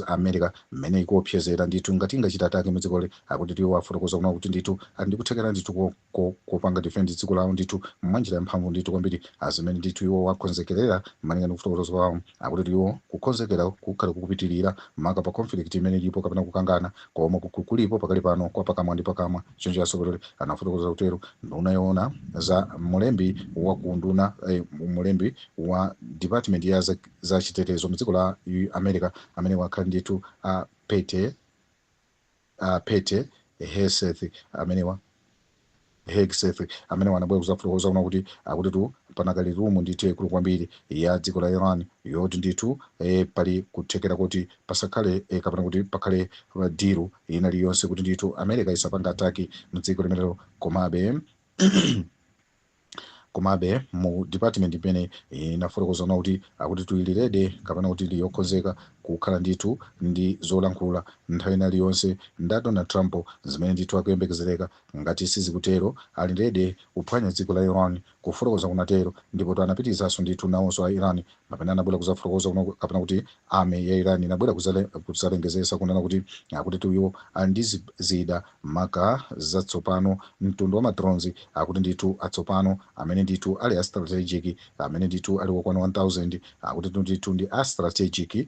America mmene ikuopsezera ndithu ngati ingachita ataki mu dzikoli akuti iwo afotokoza kunena kuti ndithu ali ndi kuthekera ndithu ko ko, kopanga defend dziko lawo ndithu mwanjira yamphamvu ndithu kwambiri azimene ndithu iwo akhonzekerera malinga ndi kufotokoza kwawo akuti iwo kukhonzekera kukhala kukupitirira maka pa conflict imene ilipo kapena kukangana komwe kuku- kulipo pakali pano kwa pakamwa ndi pakamwa choncho atsogoleri anafotokoza kutero nduna yoona za mlembi wa ku nduna eh, mlembi wa department ya za, za chitetezo mu dziko la U- america amene wakhala ndithu a pete uh, pete hegseth amenewa Hegseth amenewa anabwera kuzafotokoza kunena kuti akutitu panakali rumu ndithu yaikulu kwambiri ya dziko la Iran yoti ndithu eh, pali kuthekera kuti pasakhale eh, kapena kuti pakhale diru ina iliyonse kuti ndithu America isapanga ataki mdziko limenelo komabe Komabe, mu dipatimenti imene inafotokoza kunena kuti akutitu ili rede kapena kuti ili yokonzeka kukhala ndithu ndi zolankhula nthawi ina iliyonse ndi a Donald Trump, zimene ndithu akuyembekezereka, ngati sizikutero, ali rede kuphwanya dziko la Iran, kufotokoza kunatero, ndipotu anapitizanso ndithu nawonso a Iran Mapena anabwela kuzafotokoza kunena kapena kuti army ya Iran inabwela kuzale kuzalengezesa kunena kuti akutitu iwo ali ndi zi- zida maka zatsopano mtundu wa madrones akuti ndithu atsopano amene ndithu ali a strategic amene ndithu ali wokwana 1000 akutitu ndithu ndi a strategic eh,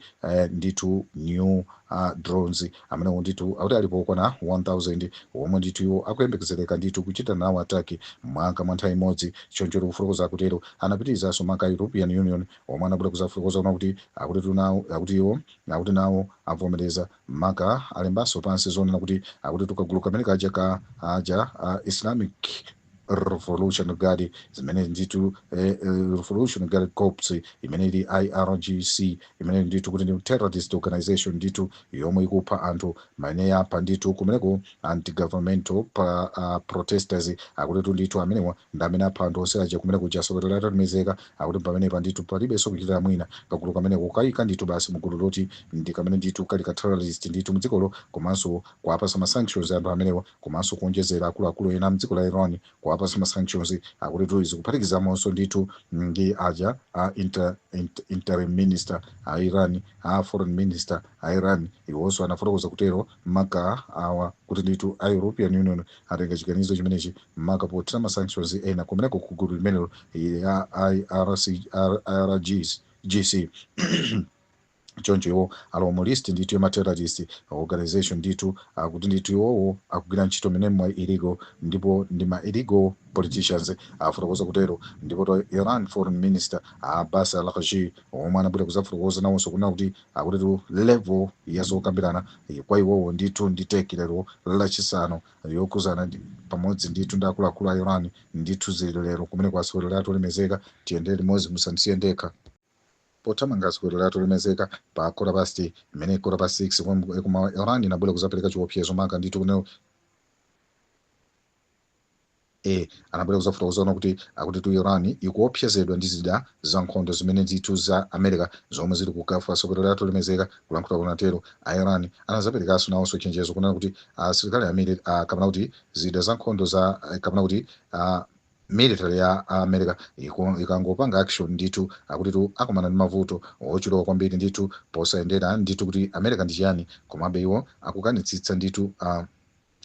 ndithu new uh, drones Amenewo ndithu akuti alipo okwana 1000 womwe ndithu iwo akuyembekezereka ndithu kuchita nawo attack maka mwa nthawi imodzi, choncho kufotokoza kutero. Anapitizanso maka a European Union omwe anabwera kuzafotokoza kunena kuti akutitu nawo akuti iwo akuti nawo avomereza maka alembanso pansi zonena kuti akutitu kagulu kamene kaja ka aja a Islamic revolution guard zimene ndithu eh, eh, revolution guard corps imene ili irgc imene ndithu kuti ndi terrorist organization ndithu yomwe ikupha anthu amene apha ndithu kumeneko anti-governmental pa, uh, protesters akutitu ndithu amenewa ndi amene apha anthu onse aja kumeneko atsogoleri athu olemezeka akuti pamenepa ndithu palibenso kuchitira mwina kagulu kameneko kukayika ndithu basi mugulu loti ndi kamene ndithu kali ka terrorist ndithu mdzikolo komanso kuapasa ma sanctions anthu amenewa komanso kuonjezera akuluakulu ena mdziko la Iran kuwapatsa ma sanctions akutitu izi kuphatikizamonso ndithu ndi aja a inter, inter, interim minister a Iran a foreign minister a Iran iwonso anafotokoza kutero maka awa kuti ndithu a European Union atenga chiganizo chimenechi maka pothira ma sanctions ena kumeneko ku gulu limenelo ya IRC, IRGs, GC choncho iwo alowa mu list ndithu ya ma terrorist organization ndithu akuti ndithu iwowo akugwira ntchito mene mwa illegal ndipo ndi ma illegal politicians afotokoza kutero ndipotu Iran foreign minister Abbas Araghchi omwe anabwera kuzafotokoza nawonso kunena kuti akutitu level ya zokambirana eh, kwa iwowo ndithu ndi Turkey lero lachisanu yokhuzana ndi pamodzi ndithu ndi akuluakulu a Iran ndithu zili lero kumeneko atsogoleri athu olemezeka tiyendere limodzi musandisiye ndekha Pothamanga atsogoleri athu olemezeka pa kota pasti imene kota past 6 pomwe yakummawa Iran inabwera kuzapereka chiopsezo maka ndithu kunena e anabwera kuzafotokoza kunena kuti akutitu Iran ikuopsezedwa ndi zida za nkhondo zimene ndithu za America zomwe zili ku Gulf atsogoleri athu olemezeka kulankhula kunatero a Iran anazaperekaso nawonso chenjezo kunena kuti asilikali amene a kapena kuti zida za nkhondo za kapena kuti a Military ya a America iku, ikangopanga action ndithu akutitu akumana ndi mavuto ochuluka kwambiri ndithu posayendera ndithu kuti America ndi chiyani komabe iwo akukanitsitsa ndithu a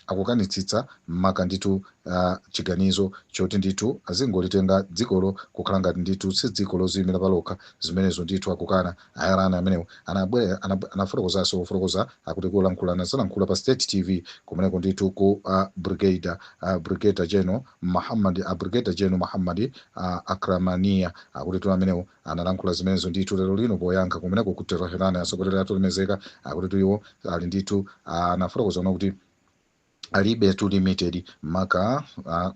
akukanitsitsa maka ndithu a chiganizo choti ndithu azingolitenga dzikolo kukhala ngati ndithu si dziko loziyimira palokha zimenezo ndithu akukana A Iran amenewo anabwera anab- anafotokozanso pofotokoza akuti kulankhula anazalankhula pa state tv kumeneko ndithu ku uh, brigadier uh, brigadier general muhammad uh, brigadier general muhammad uh, akramania akutitu amenewo analankhula zimenezo ndithu lero lino poyankha kumeneko ku tehran atsogoleri athu olemezeka akutitu iwo ali ndithu anafotokoza kuti alibetu limited maka a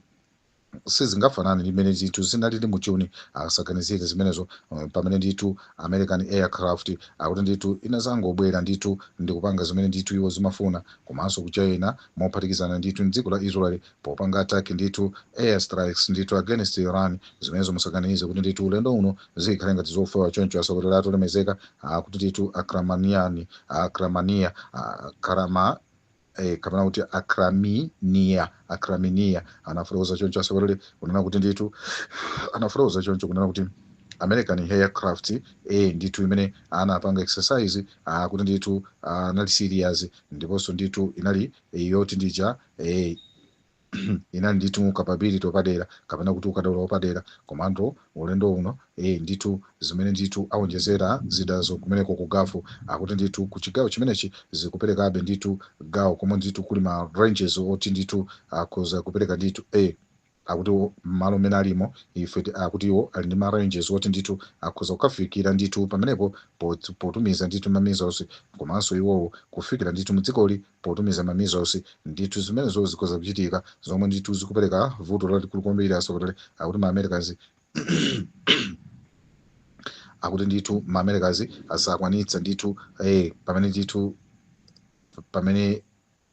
sizingafanane ndi mmene zinthu zinalili mu juni asaganizire zimenezo um, pamene ndithu american aircraft akuti ndithu inazangobwera ndithu ndikupanga zimene ndithu iwo zimafuna komanso ku china mophatikizana ndithu mdziko la israel popanga attack ndithu air strikes ndithu against iran zimenezo musaganize kuti ndithu ulendo uno zikhale ngati zofewa choncho atsogoleri athu olemezeka akuti ndithu akramaniani akramania akramania eh, kapena kuti akraminiya akraminiya anafotokoza choncho atsogoleri kunena kuti ndithu anafotokoza choncho kunena kuti american aircraft eh, ndithu imene anapanga exercise ah, kuti ndithu ah, anali serious ndiponso ndithu inali eh, yoti ndija eh, inali ndithu kapability yapadera kapena kuti ukadaulo wapadera komando ulendo uno e ndithu zimene ndithu aonjezera zidazo kumeneko ku Gulf akuti ndithu ku chigawo chimenechi zikuperekabe ndithu gawo komwe ndithu kuli ma ranges oti ndithu akhoza kupereka ndithu e akuti wo- m'malo mmene alimo ife ti- akuti iwo ali ndi ma ranges oti ndithu akhoza kukafikira ndithu pamenepo pot- potumiza ndithu ma missiles komanso iwowo kufikira ndithu mdzikoli potumiza ma missiles ndithu zimenezo zikhoza kuchitika zomwe ndithu zikupereka vuto lalikulu kwambiri atsogoleri akuti ma americans akuti ndithu ma americans asakwanitsa ndithu eh, pamene ndithu pamene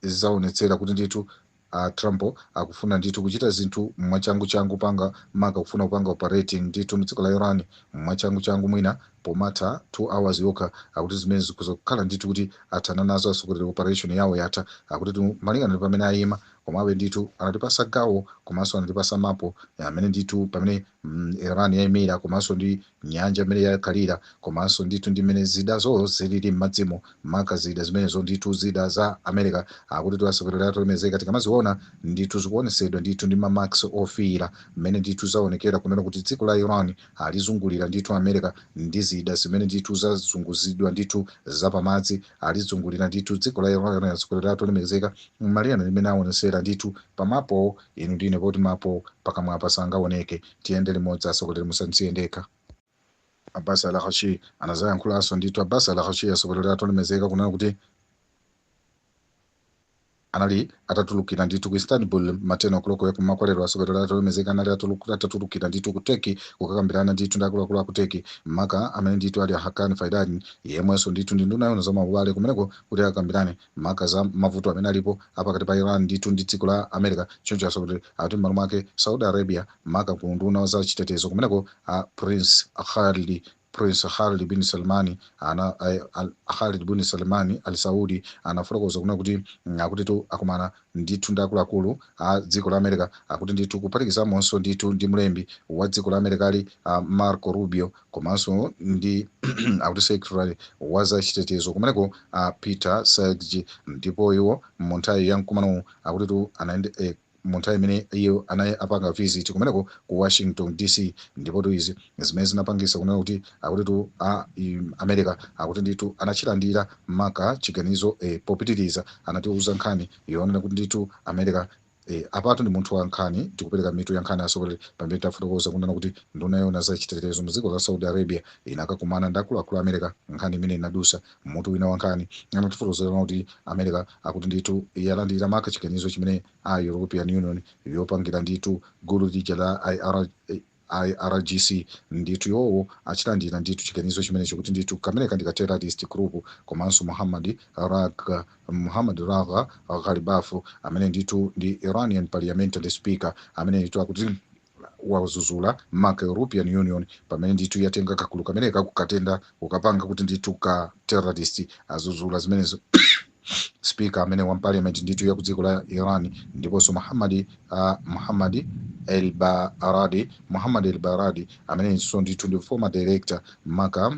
zaonetsera kuti ndithu a Trump akufuna ndithu kuchita zinthu mwachangu changu panga maka kufuna kupanga operating ndithu mdziko la Iran mwachangu changu mwina pomatha 2 hours yokha akuti zimenezi zikhoza kukhala ndithu kuti athana nazo atsogoleri operation yawo yatha akutitu malingana ndi pamene ayima komabe ndithu anatipasa gawo komanso anatipasa mapo amene ndithu pamene mm, Iran yaimira komanso ndi nyanja imene yakhalira komanso ndithu ndi mmene zidazo zilili m'madzimo maka zida zimenezo ndithu zida za America akuti ti atsogoleri athu olemekezeka tikamaziona ndithu zikuonesedwa ndithu ndi ma marks ofiira mmene ndithu zaonekera kunena kuti dziko la Iran alizungulira ndithu America ndi zida zimene ndithu zazunguzidwa ndithu zapamadzi alizungulira ndithu dziko la Iran atsogoleri athu olemekezeka malingana ndi mmene awonesera ndithu pamapowo inu ndine poti mapowo pakamwapa sangaoneke tiyende limodzi atsogoleri musandisiye ndekha Abbas Araghchi anazayankhulanso ndithu Abbas Araghchi atsogoleri athu olemekezeka kunena kuti anali atatulukira ndithu ku Istanbul m'ma 10 o'clock ya kum'mawa kwa lero. Atsogoleri athu olemekezeka anali atuluku- atatulukira ndithu ku Turkey kukakambirana ndithu ndi akuluakulu a ku Turkey, maka amene ndithu ali a Hakan Fidan, yemwenso ndithu ndi nduna yoona za maubale kumeneko kuti akambirane maka za mavuto amene alipo a pakati pa Iran ndithu ndi dziko la America. Choncho atsogoleri akuti m'malo mwake Saudi Arabia maka ku unduna wa za chitetezo kumeneko a Prince Khalid Prince Khalid bin Salman ana eh, al, Khalid bin Salman al Saud anafotokoza kunena kuti mm, akutitu akumana ndithu ndi akuluakulu a dziko la America akuti ndithu kuphatikizamonso ndithu ndi mlembi wa dziko la America ali uh, Marco Rubio komanso ndi akuti secretary wa za chitetezo kumeneko uh, Pete Hegseth ndipo iwo mu nthawi ya mkumanowu akutitu anayende eh, mu nthawi imene iye anali apanga visit kumeneko ku Washington DC ndipotu izi zimene zinapangisa kunena kuti akutitu a, America akuti ndithu anachilandira maka chiganizo e, popitiriza anatiuza nkhani yonena kuti ndithu America E, apatu ndi munthu wa nkhani tikupereka mitu ya nkhani asogoleri pamene tafotokoza kunena kuti nduna yoona za chitetezo mu dziko la Saudi Arabia inakakumana ndi akuluakulu a America nkhani imene inadusa M'mutu wina wa nkhani, anatifotokozera zonena kuti America akuti ndithu yalandira maka chiganizo chimene a European Union yopangira ndithu gulu lija la IR, IRGC ndithu iwowo achilandira ndithu chiganizo chimenecho kuti ndithu kameneka ndi ka terrorist group komanso Muhammad Raga Muhammad Raga Ghalibaf amene ndithu ndi Iranian parliamentary speaker amene ndithu akuti wadzudzula maka european union pamene ndithu yatenga kagulu kameneka kukatenga kukapanga kuti ndithu ka terrorist adzudzula zimenezo speaker amene wa parliament ndithu ya ku dziko la iran ndiponso muhammadi uh, muhammadi el baradi muhammad el baradi amenenso ndithu ndi former director maka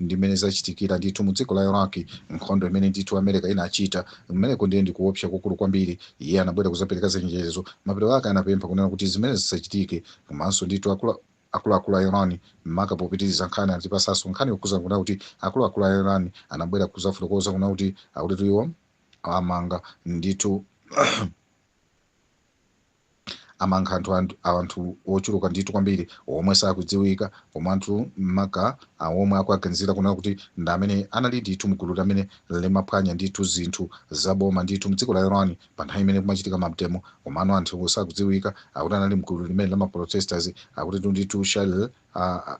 Ndi mmene zachitikira ndithu mu dziko la Iraq, nkhondo imene ndithu Amerika inachita kumeneko ndiye ndi kuopsa kwakukulu kwambiri. Iye anabwera kuzapereka chenjezo, mapeto ake anapempha kunena kuti zimenezi zisachitike. Komanso ndithu akulu akulu a Iran maka popitiriza nkhani anatipasanso nkhani yokhuzana kunena kuti akulu akulu a Iran anabwera kuzafotokoza kunena kuti akutitu iwo amanga ndithu amanga anthu anthu anthu ochuluka ndithu kwambiri omwe sakudziwika koma anthu maka omwe akuwaganizira kunena kuti ndi amene anali ndithu mgulu lamene limaphwanya ndithu zinthu za boma ndithu mdziko la iran pa nthawi imene kumachitika mademo komano anthu sakudziwika akuti anali mgulu limene la maprotesters akuti ndithu Shahr uh,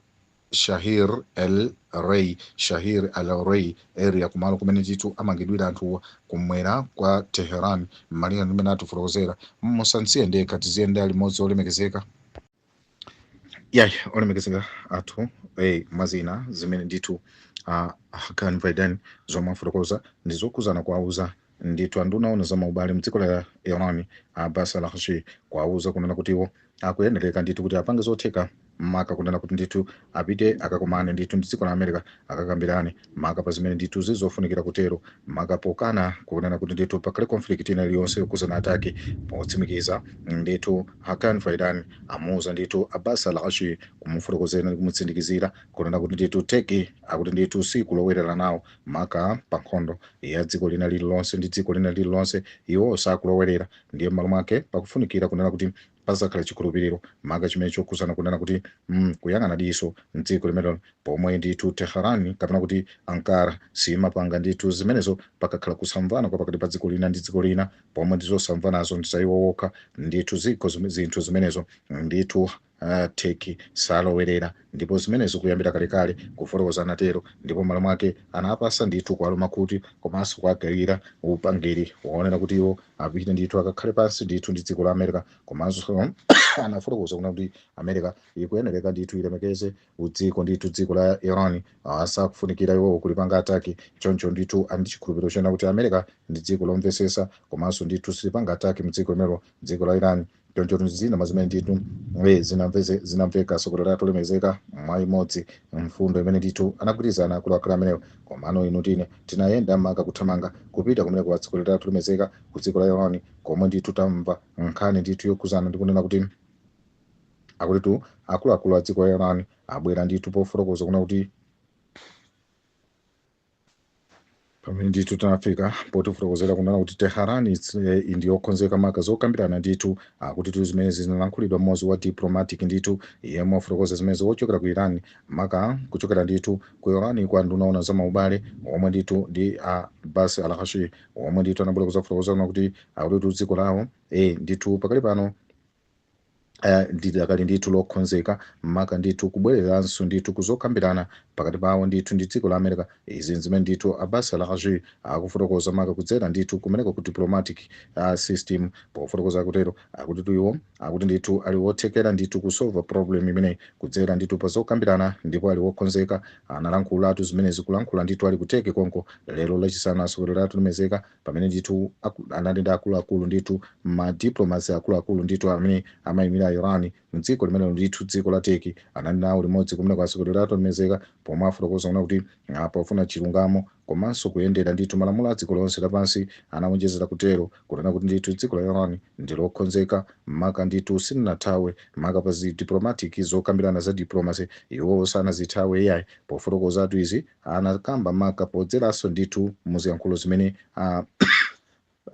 Shahr-e Rey Shahr-e Rey area kumalo kumene ndithu amangidwira anthuwa kum'mwera kwa Tehran malinga ndi mmene atifotokozera musansiye ndekha tiziyendera limodzi olemekezeka yayi olemekezeka athu eh, mwazina zimene ndithu uh, Hakan Fidan zomwe afotokoza ndi zokhudzana kuwauza Ndithu anduna oona za maubale mdziko la Iran a Abbas Araghchi kuwauza kunena kuti iwo akuyenereka ndithu kuti apange zotheka maka kunena kuti ndithu apite akakumane ndithu mdziko la America akakambirane maka pa zimene ndithu zili zofunikira kutero maka pokana kunena kuti ndithu pakhale conflict ina iliyonse yokhudzana a Turkey potsimikiza ndithu Hakan Fidan amuuza ndithu Abbas Araghchi kumufotokozera ndi kumutsindikizira kunena kuti ndithu Turkey akuti ndithu sikulowerera nawo maka pa nkhondo ya dziko lina lililonse ndi dziko lina lililonse iwo sakulowerera ndiye m'malo mwake pakufunikira kunena kuti pazakhala chikhulupiriro maka chimene chokhudzana kunena kuti mm, kuyang'ana diso mdziko limenelo pomwe ndithu Tehran kapena kuti ankara siyimapanga ndithu zimenezo pakakhala kusamvana kwa pakati pa dziko lina ndi dziko lina pomwe ndizosamvanazo ndi za iwo wokha ndithu ziko zim- zinthu zimenezo ndithu A Turkey salowerera ndipo zimenezi kuyambira kalekale, kufotokoza anatero, ndipo m'malo mwake anawapasa ndithu kuwaluma khutu komanso kuwagawira upangiri woonera kuti iwo apite ndithu akakhale pansi ndithu ndi dziko la America komanso anafotokoza kunena kuti America ikuyenereka ndithu ilemekeze udziko ndithu dziko la Iran ah, sakufunikira iwowo kulipanga ataki choncho ndithu ali ndi chikhulupiriro chonena kuti America ndi dziko lomvesesa komanso ndithu silipanga ataki mdziko limelo dziko la Iran choncho tu zina mwa zimene ndithu eh, zinamveze- zinamveka asogoleri olemekezeka mwa imodzi mfundo imene ndithu anagwirizana akuluakulu amenewo komano inu tine tinayenda maka kuthamanga kupita kumeneko asogoleri olemekezeka ku dziko la yawani komwe ndithu tamva nkhani ndithu yokhuzana ndi kunena kuti akutitu akuluakulu a dziko la Iran abwera ndithu pofotokoza kunena kuti pamene ndithu tinafika potifotokozera kunena kuti Tehran its- eh, ndi yokonzeka maka zokambirana ndithu akutitu zimenezi zinalankhulidwa mmodzi wa diplomatic ndithu yemwe wafotokoza zimenezi wochokera ku iran maka kuchokera ndithu ku iran kwa nduna yoona za maubale omwe ndithu ndi Abbas Araghchi omwe ndithu anabwera kuzafotokoza kunena kuti akuti tu dziko lawo eh, ndithu pakali pano eh, lidakali ndithu lokonzeka maka ndithu kubwereranso ndithu kuzokambirana pakati pawo ndithu ndi dziko la america izi nzimene ndithu Abbas Araghchi akufotokoza maka kudzera ndithu kumeneko ku diplomatic uh, system pofotokoza kutero akutitu iwo akuti ndithu ali wothekera ndithu kusolva problem imeneyi kudzera ndithu pazokambirana ndipo ali wokonzeka analankhulatu zimenezi kulankhula ndithu ali ku Turkey konko lero lachisanu asogoleri olemekezeka pamene ndithu aku- anali ndi akuluakulu ndithu ma diplomats akuluakulu ndithu amene amayimira iran mdziko limenelo ndithu dziko la Turkey anali nawo limodzi kumeneko asogoleri olemekezeka pomwe afotokoza kunena kuti ah, pofuna chilungamo komanso kuyendera ndithu malamulo a dziko lonse lapansi anawonjezera kutero kunena kuti ndithu dziko la iran ndilokonzeka maka ndithu silinathawe maka pa diplomatic zokambirana za diplomacy iwo sanazithawe iyayi pofotokozatu izi anakamba maka podzeranso ndithu mu ziyankhulo zimene a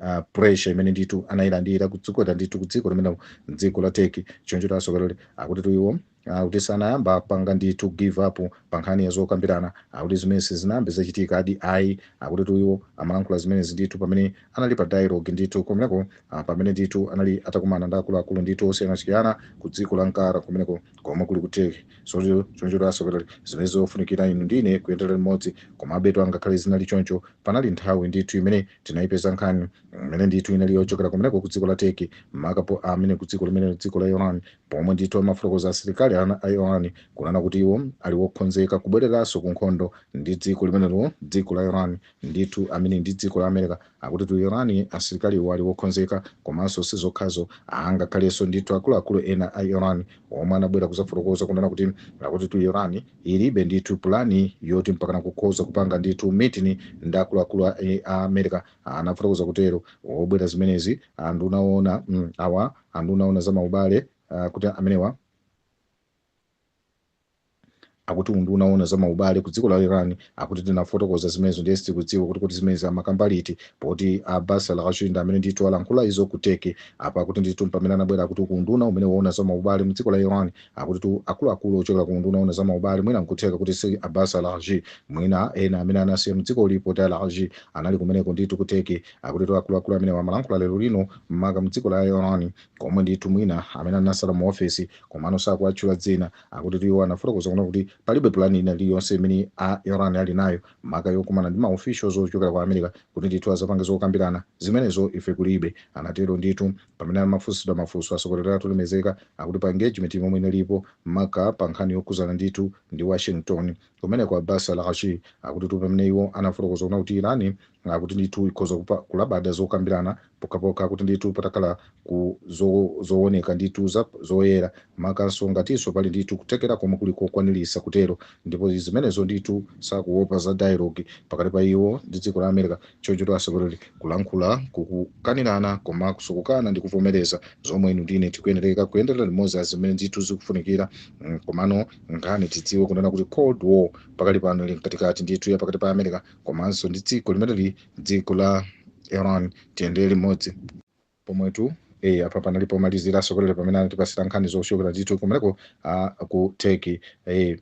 uh, pressure imene ndithu anayilandira kudzikota ndithu kudziko limene dziko la Turkey choncho tu asogoleri akutitu iwo akuti sanayambe apanga ndithu give up pa nkhani ya zokambirana akuti zimenezi zinayambe zachitika adi ayi akutitu iwo amalankhula zimenezi ndithu pamene anali pa dialogue ndithu kumeneko ah, pamene ndithu anali atakumana ndi akuluakulu ndithu osiyanasiyana ku dziko la Ankara kumeneko komwe kuli ku Turkey Choncho choncho atsogoleri zimene zofunikira inu ndi ine kuyendera limodzi. Komabe tu angakhale zinali choncho, panali nthawi ndithu imene tinayipeza nkhani imene ndithu inali yochokera kumeneko ku dziko la Turkey, makapo amene ku dziko limene dziko la Iran, pomwe ndithu amafotokoza asilikali ana a Iran kunena kuti iwo ali wokhonzeka kubwereranso ku nkhondo ndi dziko limenelo, dziko la Iran. Ndithu amene ndi dziko la America akutitu Iran asilikaliwo ali wokhonzeka komanso sizokhazo aa ngakhaleso ndithu akuluakulu ena a Iran omwe anabwera kuzafotokoza kunena kuti akutitu Iran ilibe ndithu pulani yoti mpakana kukhoza kupanga ndithu meeting ndi akuluakulu a a America anafotokoza kutero obwera zimenezi anduna oona mm, awa anduna oona za maubale ah, kuti amenewa akuti unduna woona za maubale ku dziko la iran akuti tinafotokoza zimenezo ndiye sitikudziwa kuti kuti zimenezi amakamba liti poti abbas araghchi amene ndithu alankhula izo ku turkey apa akuti ndithu pamene anabwera akuti ku unduna umene woona za maubale mu dziko la iran akuti tu akuluakulu ochokera ku unduna woona za maubale mwina nkutheka kuti si abbas araghchi mwina ena amene anasiya mu dzikoli poti araghchi anali kumeneko ndithu ku turkey akuti tu akuluakulu amene amalankhula lero lino maka mu dziko la iran komwe ndithu mwina amene anasala mu ofesi Komano sakuwatchula dzina. Akutitu iwo anafotokoza kunena kuti palibe pulani ina iliyonse imene a Iran ali nayo maka yokumana ndi ma officials ochokera ku America kuti ndithu azapange zokambirana. Zimenezo ife kulibe. Anatero ndithu. Pamene amafunsidwa mafunso atsogoleri athu olemekezeka akuti pa engagement yomwe inalipo maka pa nkhani yokhuzana ndithu ndi Washington kumeneko a Abbas Araghchi akutitu pamene iwo anafotokoza kunena kuti Iran akuti ndithu ikhoza kupa, kulabada zokambirana pokhapokha kuti ndithu patakhala ku zo, zooneka ndithu zoyera makanso ngatinso pali ndithu kuthekera komwe kuli kokwanirisa kutero ndipo zimenezo ndithu sakuopa za dialogue pakati pa iwo ndi dziko la America choncho atsogoleri kulankhula kukukanirana komanso kukana ndi kuvomereza zomwe inu ndine tikuyenereka kuyendera limodzi zimene ndithu zikufunikira mm, komano nkhani tidziwe kunena kuti cold war pakali pano ili mkatikati ndithu ya pakati pa America komanso ndi dziko limeneli dziko la iran tiyendere limodzi pomwetu e apa panali pomalizira atsogoleri pamene anatipasira nkhani zochokera ndithu kumeneko a ku turkey e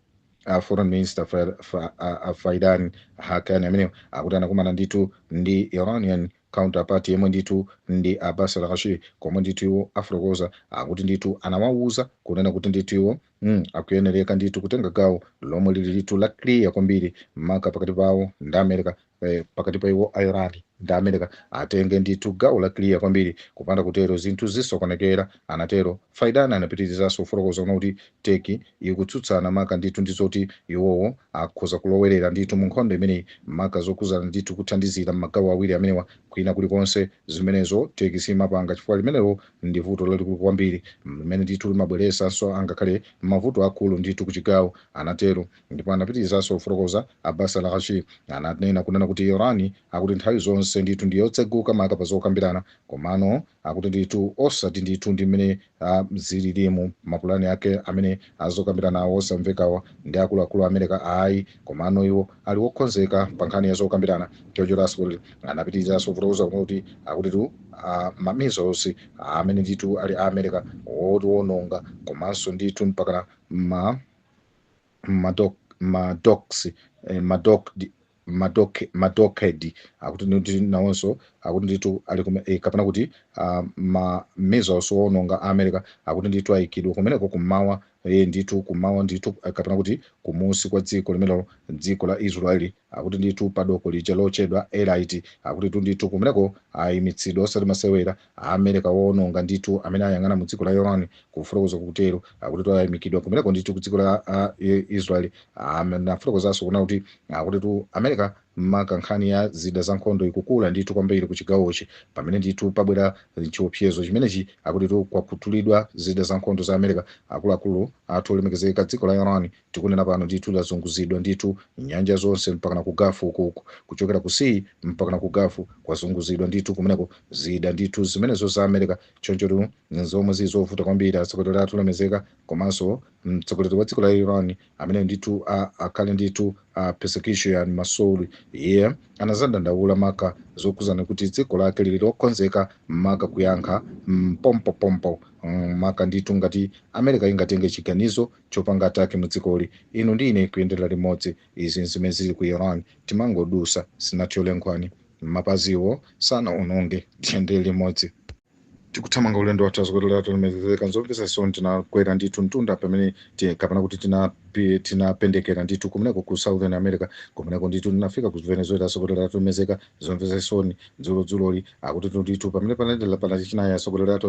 a foreign minister Fa- Fa- a- a fidan hakan amene akuti anakumana ndithu ndi iranian counterpart yemwe ndithu ndi abbas araghchi komwe ndithu iwo afotokoza akuti ndithu anawawuza kunena kuti ndithu iwo Mm, akuyenereka ndithu kutenga gawo lomwe lili ndithu la clear kwambiri maka pakati pawo ndi america eh, pakati pa iwo a iran ndi america atenge ndithu gawo la clear kwambiri kupanda kutero zinthu zisokonekera anatero fidan anapitirizanso kufotokoza kunena kuti turkey ikutsutsana maka ndithu ndi zoti iwowo akhoza kulowerera ndithu mu nkhondo imeneyi maka zokuzana ndithu kuthandizira m'magawo awiri amenewa kwina kulikonse zimenezo turkey simapanga chifukwa limenelo Ndi vuto lalikulu kwambiri limene ndithu limabweresanso angakhale mavuto akulu ndithu kuchigawo, anatero. Ndipo anapitirizanso kufotokoza, Abbas Araghchi ananena kunena kuti Iran akuti nthawi zonse ndithu ndi yotseguka maka pa zokambirana, komano akuti ndithu osati ndithu ndi mmene a zililimu, mapulani ake amene a zokambiranawo osamvekawa ndi akuluakulu a Amereka ayi. Komano iwo ali wokhonzeka pa nkhani ya zokambirana, choncho atsogoleri anapitirizaso kufotokoza kuti akutitu a ma missiles amene ndithu ali a America oononga komanso ndithu mpakana ma ma dock ma docks eh, ma dock ma dock ma dockhead akuti ndithu nawonso akuti ndithu ali kume- eh, kapena kuti ah, ma missiles owononga a America akuti ndithu ayikidwa kumeneko kummawa Ee, ndithu kummawa ndithu, kapena kuti kumusi kwa dziko limenelo, dziko la Israeli, akuti ndithu pa doko lija lochedwa Eilat, akutitu ndithu kumeneko ayimitsidwa osati masewera, a Amereka woononga ndithu amene ayang'ana mu dziko la Iran, kufotokoza kutero, akutitu ayimikidwa kumeneko ndithu ku dziko la a, Israeli, anafotokozanso kuna kuti akutitu Amereka Maka nkhani ya zida za nkhondo ikukula ndithu kwambiri ku chigawochi pamene ndithu pabwera chiopsezo chimenechi akutitu kwakhutulidwa zida za nkhondo za America akuluakulu athu olemekezeka dziko la Iran tikunena pano ndithu lazunguzidwa ndithu nyanja zonse mpakana ku Gulf uku kuchokera ku sea mpakana ku Gulf kwazunguzidwa ndithu kumeneko zida ndithu zimenezo za America chonchotu zomwe zili zovuta kwambiri atsogoleri athu olemezeka komanso mtsogoleri wa dziko la Iran Amene ndithu akhale ndithu a Pezeshkian Masoud iye anazadandaula maka zokuzana kuti dziko lake lili lokonzeka maka kuyankha mm, pompo pompo mm, maka ndithu ngati america ingatenge chiganizo chopanga ataki mu dzikoli inu ndi ine kuyendera limodzi izi zimene zili ku iran timangodusa sinathyole nkhwani mapaziwo sanaunonge tiyendere limodzi tikuthamanga ulendo wathu atsogoleri athu olemekezeka nzomvetsa chisoni tinakwera ndithu mtunda pamene ti- kapena kuti tinapi- tinapendekera ndithu kumeneko ku southern america kumeneko ndithu tinafika ku venezuela atsogoleri athu olemekezeka zomvetsa chisoni dzulo dzuloli akuti ndithu pamene panadela pa lachinayi atsogoleri athu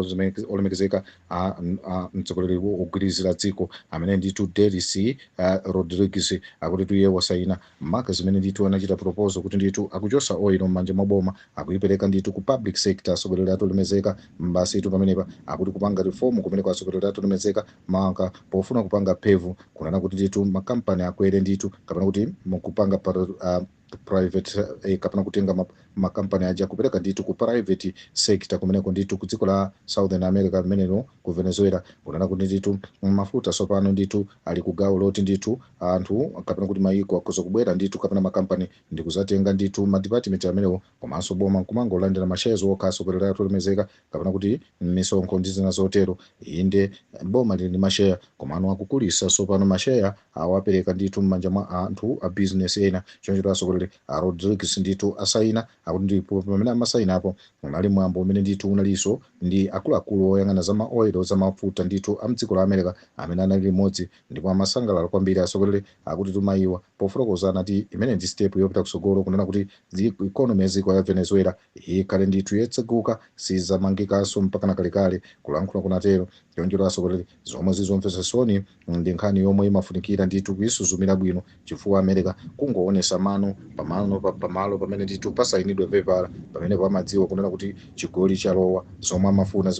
olemekezeka a- a- mtsogoleri wo- wogwirizira dziko amene ndithu delcy ah, rodriguez akutitu iye wasaina Maka zimene ndithu anachita proposal kuti ndithu akuchosa oil mmanja mwa boma akuipeleka ndithu ku public sector asogoleri athu olemezeka basitu pamenepa akuti kupanga reform kumeneko asogoleri athu olemezeka maka pofuna kupanga pave kunena kuti ndithu ma company akwere ndithu kapena kuti mkupanga pa, uh, private eh, kapena kutenga ma makampani aja kupereka ndithu ku private sector kumeneko ndithu ku dziko la southern america limenelo ku venezuela kunena kuti ndithu mafuta tsopano ndithu ali ku gawo loti ndithu anthu kapena kuti mayiko akhoza kubwera ndithu kapena makampani ndi kuzatenga ndithu madipatimenti amenewo komanso boma nkumangolandira masheya okha asokolera athu olemezeka kapena kuti misonkho ndi zina zotero inde boma lili ndi masheya komano akukulisa tsopano masheya awapereka ndithu m'manja mwa anthu a bizinesi ena choncho asokolera A Rodrigues ndithu asayina, akuti ndipo pamene amasayinapo unali mwambo umene ndithu unalinso ndi akuluakulu oyang'ana za ma oil, za mafuta ndithu a mdziko la America amene anali limodzi ndipo amasangalala kwambiri asokolera, akutitu mayiwa pofotokoza anati imeneyi ndi step yopita kutsogolo kunena kuti economy ya dziko la Venezuela ikhale ndithu yetseguka, sizamangikaso mpakana kalekale, kulankhula kunatero choncho asokolera. Zomwe zili zomvesa chisoni ndi nkhani yomwe imafunikira ndithu kuisuzumira bwino chifukwa America kungowonesa mano pamano pamalo pamene ndithu pasayinidwe pepala pamenepo amadziwa kunena kuti chigoli chalowa zomwe amafuna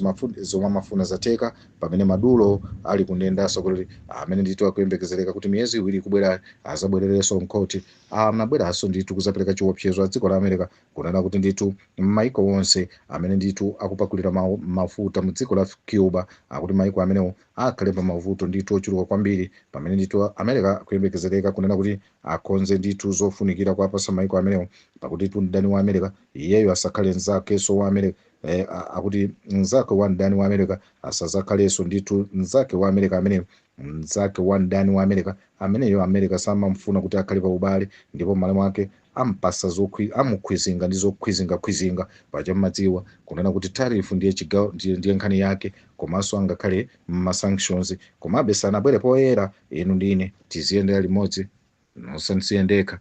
zomwe amafuna zatheka pamene Maduro ali kundende asokolera amene ndithu akuyembekezereka kuti miyezi iwiri ikubwerayi azabwerereso mkhothi anabweraso ndithu kuzapeleka chiwopsezo adziko la America Kunena kuti ndithu maiko onse amene ndithu akupakulira ma mafuta mu dziko la Cuba akuti maiko amenewo akhale pa mavuto ndithu ochuluka kwambiri pamene ndithu America akuyembekezereka kunena kuti akonze ndithu zofunikira kuwapasa maiko amenewo akutitu mdani wa America iyeyo asakhale nzakeso wa America eh, akuti nzake wa mdani wa America asazakhaleso ndithu nzake wa America amene mzake wa mdani wa America ameneyo America samamfuna kuti akhale pa ubale ndipo m'malo mwake ampasa zokhwi, amukhwizinga ndi zokhwizingakhwizinga paja mumadziwa kunena kuti tariff ndiye chigawo ndiye, ndiye nkhani yake komanso angakhale mma sanctions komabe sanabwere poyera inu ndine tiziyendera limodzi musandisiye ndekha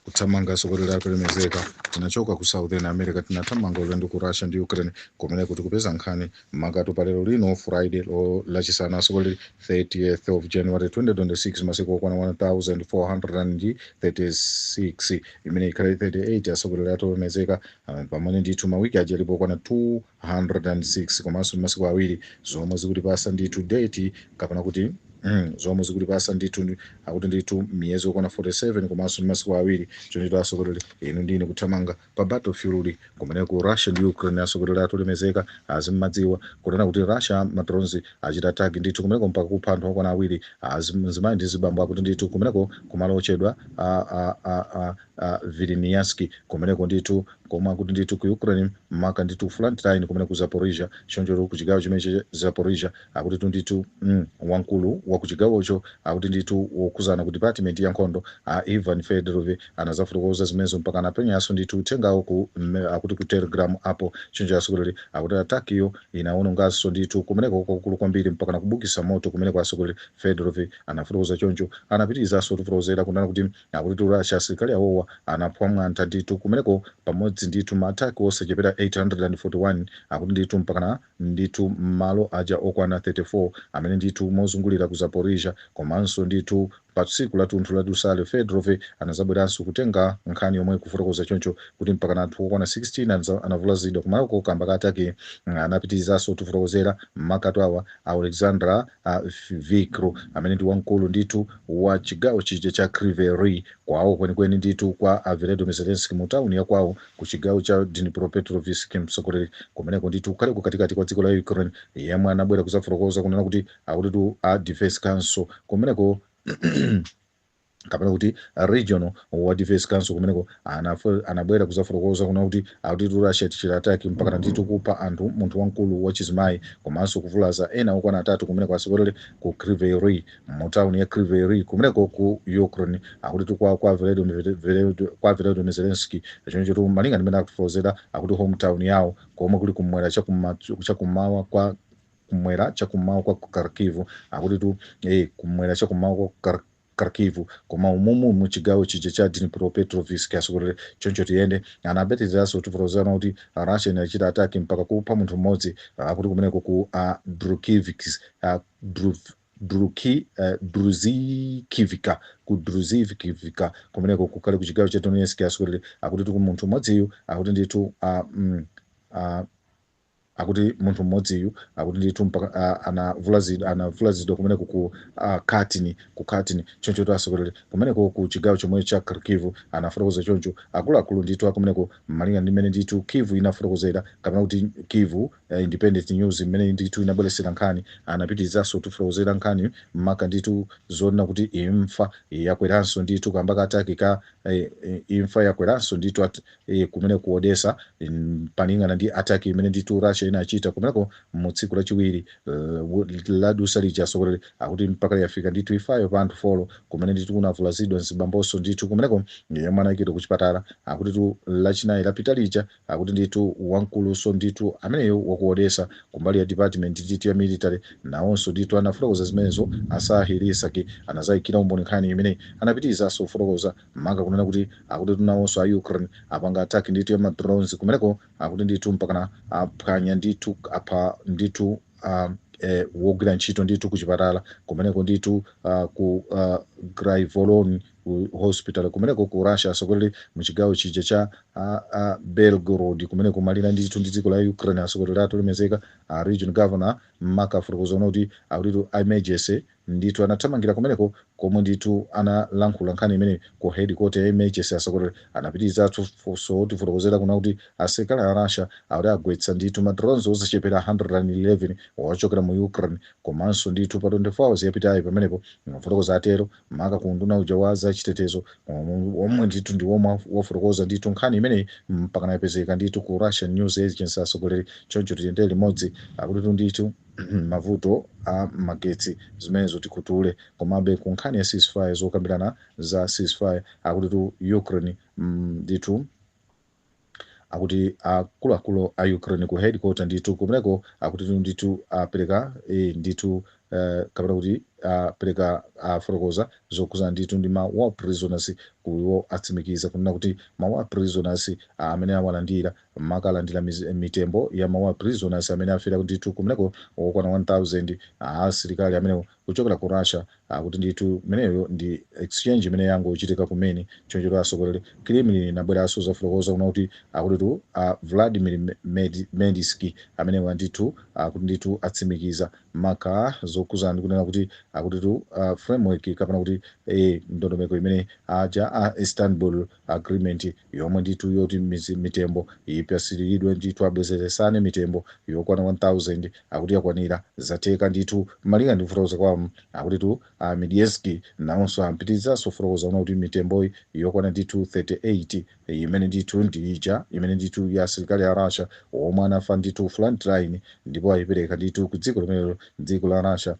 kuthamanga asokolera athu olemezeka tinachoka ku southern america tinathamanga ulendo ku russia ndi ukraine kumene tikuti kupeza nkhani makatu pa lero lino friday lachisanu asokolera 30th of january 2026 masiku okwana 1436 imene ikhale 38 asokolera athu olemezeka ah, pamene ndithu mawiki aja alipo okwana 206 komanso masiku awiri zomwe zikutipasa ndithu date kapena kuti Mm, zomwe zikutipasa ndithu akuti ndithu miyezi okwana 47 komanso masiku awiri choncho asokolera inu ndine kuthamanga pa battle field kumeneko ku Russia ndi Ukraine asokolera athu olemezeka muzimadziwa kunena kuti Russia ma drones achita attack ndithu kumeneko mpaka kupha anthu okwana awiri azim- mzimayi ndi mzibambo akuti ndithu kumeneko kumalo ochedwa a a a a, a Vilnianski kumeneko ndithu komwe akuti ndithu ku Ukraine maka ndithu front line kumeneko ku Zaporizhia choncho ku chigawo chimenechi cha Zaporizhia akutitu ndithu mm, wamkulu wa kuchigawocho akuti ndithu wokhuzana ku department ya nkhondo a Ivan Fedorov anazafotokoza zimenezo mpaka anapenyanso ndithu uthengawo ku mm, akuti ku telegram apo choncho asogoleri akuti ataki iyo inawononganso ndithu kumeneko kwakukulu kwambiri mpaka nakubukisa moto kumeneko asogoleri Fedorov anafotokoza choncho anapitirizanso kutifotokozera kunena kuti akuti tu Russia asilikali awowa anaphwa mwantha ndithu kumeneko pamodzi ndithu maataki osachepera 841 akuti ndithu mpakana ndithu malo aja okwana 34 amene ndithu mozungulira ku Zaporizhzhia komanso ndithu pa tsiku latunthu la dusale Fedorov anazabweranso kutenga nkhani yomwe kufotokoza choncho kuti mpakana anthu okwana 16 anavulazidwa kumaloko kamba ka ataki anapitilizaso kutifotokozera makatu awa a a Oleksandr a Vilkul amene ndi wamkulu ndithu wa chigawo chija cha Kryvyi Rih kwawo kwenikweni ndithu kwa a Volodymyr Zelenskiy mu town ya kwawo ku chigawo cha Dnipropetrovsk mtsogoleri kumeneko ndithu kukhale kukatikati kwa dziko la Ukraine yemwe anabwera kuzafotokoza kunena kuti akutitu a Defense Council kumeneko kapena kuti regional wa defense council kumeneko anafo- anabwera kuzafotokoza kuna kuti akutitu russia tichita ataki mpakana ndithu kupha anthu munthu wamkulu wachizimayi komanso kuvulaza ena okwana atatu kumeneko asogoleri ku Kryvyi Rih mu tauni ya Kryvyi Rih kumeneko ku Ukraine akuti tu kwa kwa Volodymyr Vele- kwa Volodymyr Zelensky choncho tu malinga ndi mmene akufotokozera akuti hometown yawo komwe kuli kumwera chakumma- chakummawa kwa kumwera chakummawa kwa Kharkiv akuti tu eh, kumwera chakummawa kwa Khar- Kharkiv koma umumu mu chigawo chija cha Dnipropetrovsk asogoleri choncho tiyende anapitirizaso kutifotokozana kuti Russia inachita ataki mpaka kupha munthu mmodzi akuti kumeneko ku uh, Drukivsk uh, Dru- Druki, Druzhkivka, ku Druzhkivka kumeneko kukhale ku chigawo cha Donetsk asogoleri akutitu ku munthu mmodziyu akuti ndithu ah, mm, ah, akuti munthu mmodziyu akuti ndithu mpaka ah, anavulazidwa anavulazidwa kumeneko ku ah, Katyn ku Katyn choncho tu asogoleri kumeneko ku chigawo chomwe cha Kharkiv anafotokoza choncho akuluakulu ndithu akumeneko malinga ndi mmene ndithu Kyiv inafotokozera kapena kuti Kyiv ya Independent News mmene ndithu inabweretsera nkhani anapitirizanso kutifotokozera nkhani maka ndithu zonena kuti imfa yakweranso ndithu kamba ka ataki ka eh, eh, imfa yakweranso ndithu at, eh, kumene ku Odessa mm, palingana ndi ataki imene ndithu Russia inachita kumeneko mu tsiku lachiwiri eh, ladusa lija asogoleri akuti mpaka yafika ndithu imfayo pa anthu folo kumene ndithu kunavulazidwa mzibambonso ndithu kumeneko yemwe anayikidwa ku chipatala akuti tu lachinayi lapita lija akuti ndithu wamkuluso ndithu ameneyo waku Odesa kumbali ya department ndithu ya military nawonso ndithu anafotokoza zimenezo a Serhiy Lysak anazaikira umboni nkhani imeneyi anapitirizanso kufotokoza maka kunena kuti akutitu nawonso a ukraine apanga attack ndithu ya ma drones kumeneko akuti ndithu mpakana aphwanya ndithu apha ndithu um, eh, wogwira ntchito ndithu kuchipatala kumeneko ndithu uh, ku uh, Graivoron ku hospital kumeneko ku russia atsogoleri mu chigawo chija cha a, a belgorod kumene kumalire ndithu ndi dziko la ukraine atsogoleri athu olemezeka a region governor maka afotokoza kuti akuti emergency ndithu anathamangira kumeneko komwe ndithu analankhula nkhani imene ku headquarter ya emergency atsogoleri anapitirizanso kutifotokozera kuna kuti asilikali a russia akuti agwetsa ndithu ma drones osachepera 111 ochokera mu ukraine komanso ndithu pa 24 hours yapitayi pamenepo amafotokoza atero maka ku unduna uja wa za chitetezo omwe ndithu ndi womwe wafotokoza ndithu nkhani imeneyi mpaka nayipezeka ndithu ku russian news agency atsogoleri choncho tiyendere limodzi akutitu ndithu mavuto a magetsi zimenezo tikutule komabe ku nkhani ya ceasefire zokambirana za ceasefire akutitu ukraine mm, ndithu akuti akuluakulu a ukraine ku headquarter ndithu kumeneko akutitu ndithu apereka eh, ndithu eh, kapena kuti apereka afotokoza zokhudzana ndithu ndi ma war prisoners kuwo atsimikiza kunena kuti ma war prisoners ah, amene awalandira maka alandira miz- mitembo ya ma war prisoners amene afera ndithu kumeneko okwana 1000 asilikali amenewo kuchokera ku Russia akuti ndithu imeneyo ndi exchange imene yangochitika kumene chonchotu atsogoleri Kremlin inabweranso kuzafotokoza kuna kuti akutitu a Vladimir Med Medinsky amenewa ndithu akuti ndithu atsimikiza maka zokhudzana ndi kunena kuti akutitu ah, framework kapena kuti eh, ndondomeko imene aja a Istanbul agreement yomwe ndithu yoti mizi- mitembo ipatsiridwe ndithu abwezeresane mitembo yokwana 1000 akuti yakwanira zatheka ndithu malinga ndi kufotokoza kwawo akutitu a Medinsky nawonso anapitirizanso kufotokoza kunena kuti mitemboyi yokwana ndithu 38 imene ndithu ndi ija imene ndithu ya asilikali a russia omwe anafa ndithu front line ndipo ayipereka ndithu ku dziko limenelo dziko la russia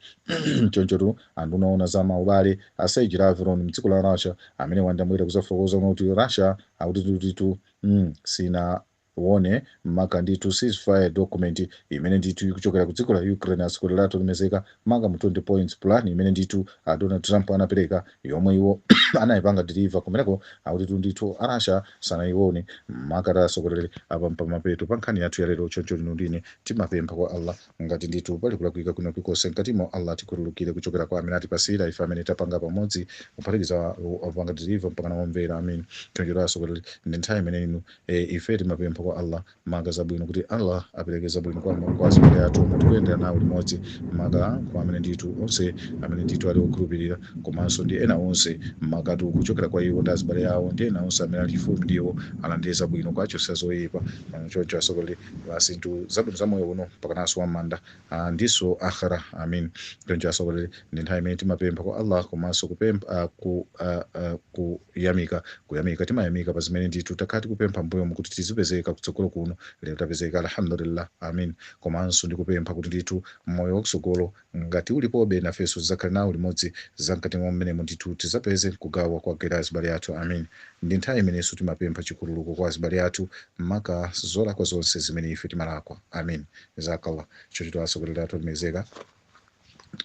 chonchotu Anduna oona za ma ubale a Sergey Lavrov mdziko la Russia amenewa ndi amabwera kuzafotokoza kuna kuti Russia akuti ndithu mm sinaione maka ndithu ceasefire document imene ndithu ikuchokera ku dziko la Ukraine atsogoleri athu olemezeka maka mu 20 points plan imene ndithu a Donald Trump anapereka yomwe iwo anayipanga deliver kumeneko akutitu ndithu a Russia sanayione maka atsogoleri apa mpamapeto pa nkhani yathu ya lero choncho lino ndine timapempha kwa Allah Ngati ndithu pali kulakwika kwina kulikonse mkatimo, Allah atikhululukire kuchokera kwa amene atipatsira, ife amene tapanga pamodzi, kuphatikiza opanga deliver mpakana omvera. Ameen. Choncho atsogoleri ndi nthawi imene inu e, ife timapempha kwa Allah maka zabwino kuti Allah apereke zabwino kwa kwa azibale athu omwe tikuyendera nawo limodzi maka kwa amene ndithu onse amene ndithu ali okhulupirira komanso ndi ena onse makatu kuchokera kwa iwo ndi azibale awo ndi ena onse amene ali chifupi ndi iwo alandire zabwino nkuwachotsa zoyipa. Choncho atsogoleri pa zinthu zabwino za moyo uno mpakananso wam'manda ah, ndinso akhira amin choncho atsogoleri ndi nthawi imene timapempha kwa allah komanso kupempha ah, ku, ah, ah, kuyamika kuyamika timayamika pa zimene ndithu takhala tikupempha mbuyomu kuti tizipezeka kutsogolo kuno lero tapezeka alhamdulillah amin komanso ndikupempha kuti ndithu moyo wakutsogolo Ngati ulipobe, nafenso tizakhale nawo limodzi zamkati mwa mmenemo ndithu tizapeze nkugawa kwa gele azibale athu amin ndi nthawi imenenso timapempha chikhululuko kwa azibale athu maka zolakwa zonse zimene ife timalakwa amin jazakallah choncho atsogoleri athu olemekezeka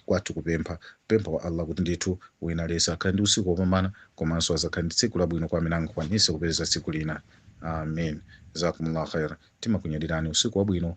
kwathu kupempha pempha kwa Allah kuti ndithu wina aliyese akhale ndi usiku wopambana komanso azakhale ndi tsiku labwino kwa amene angakwanise kupeza tsiku lina amin jazakumullah khairan timakunyadilani usiku wabwino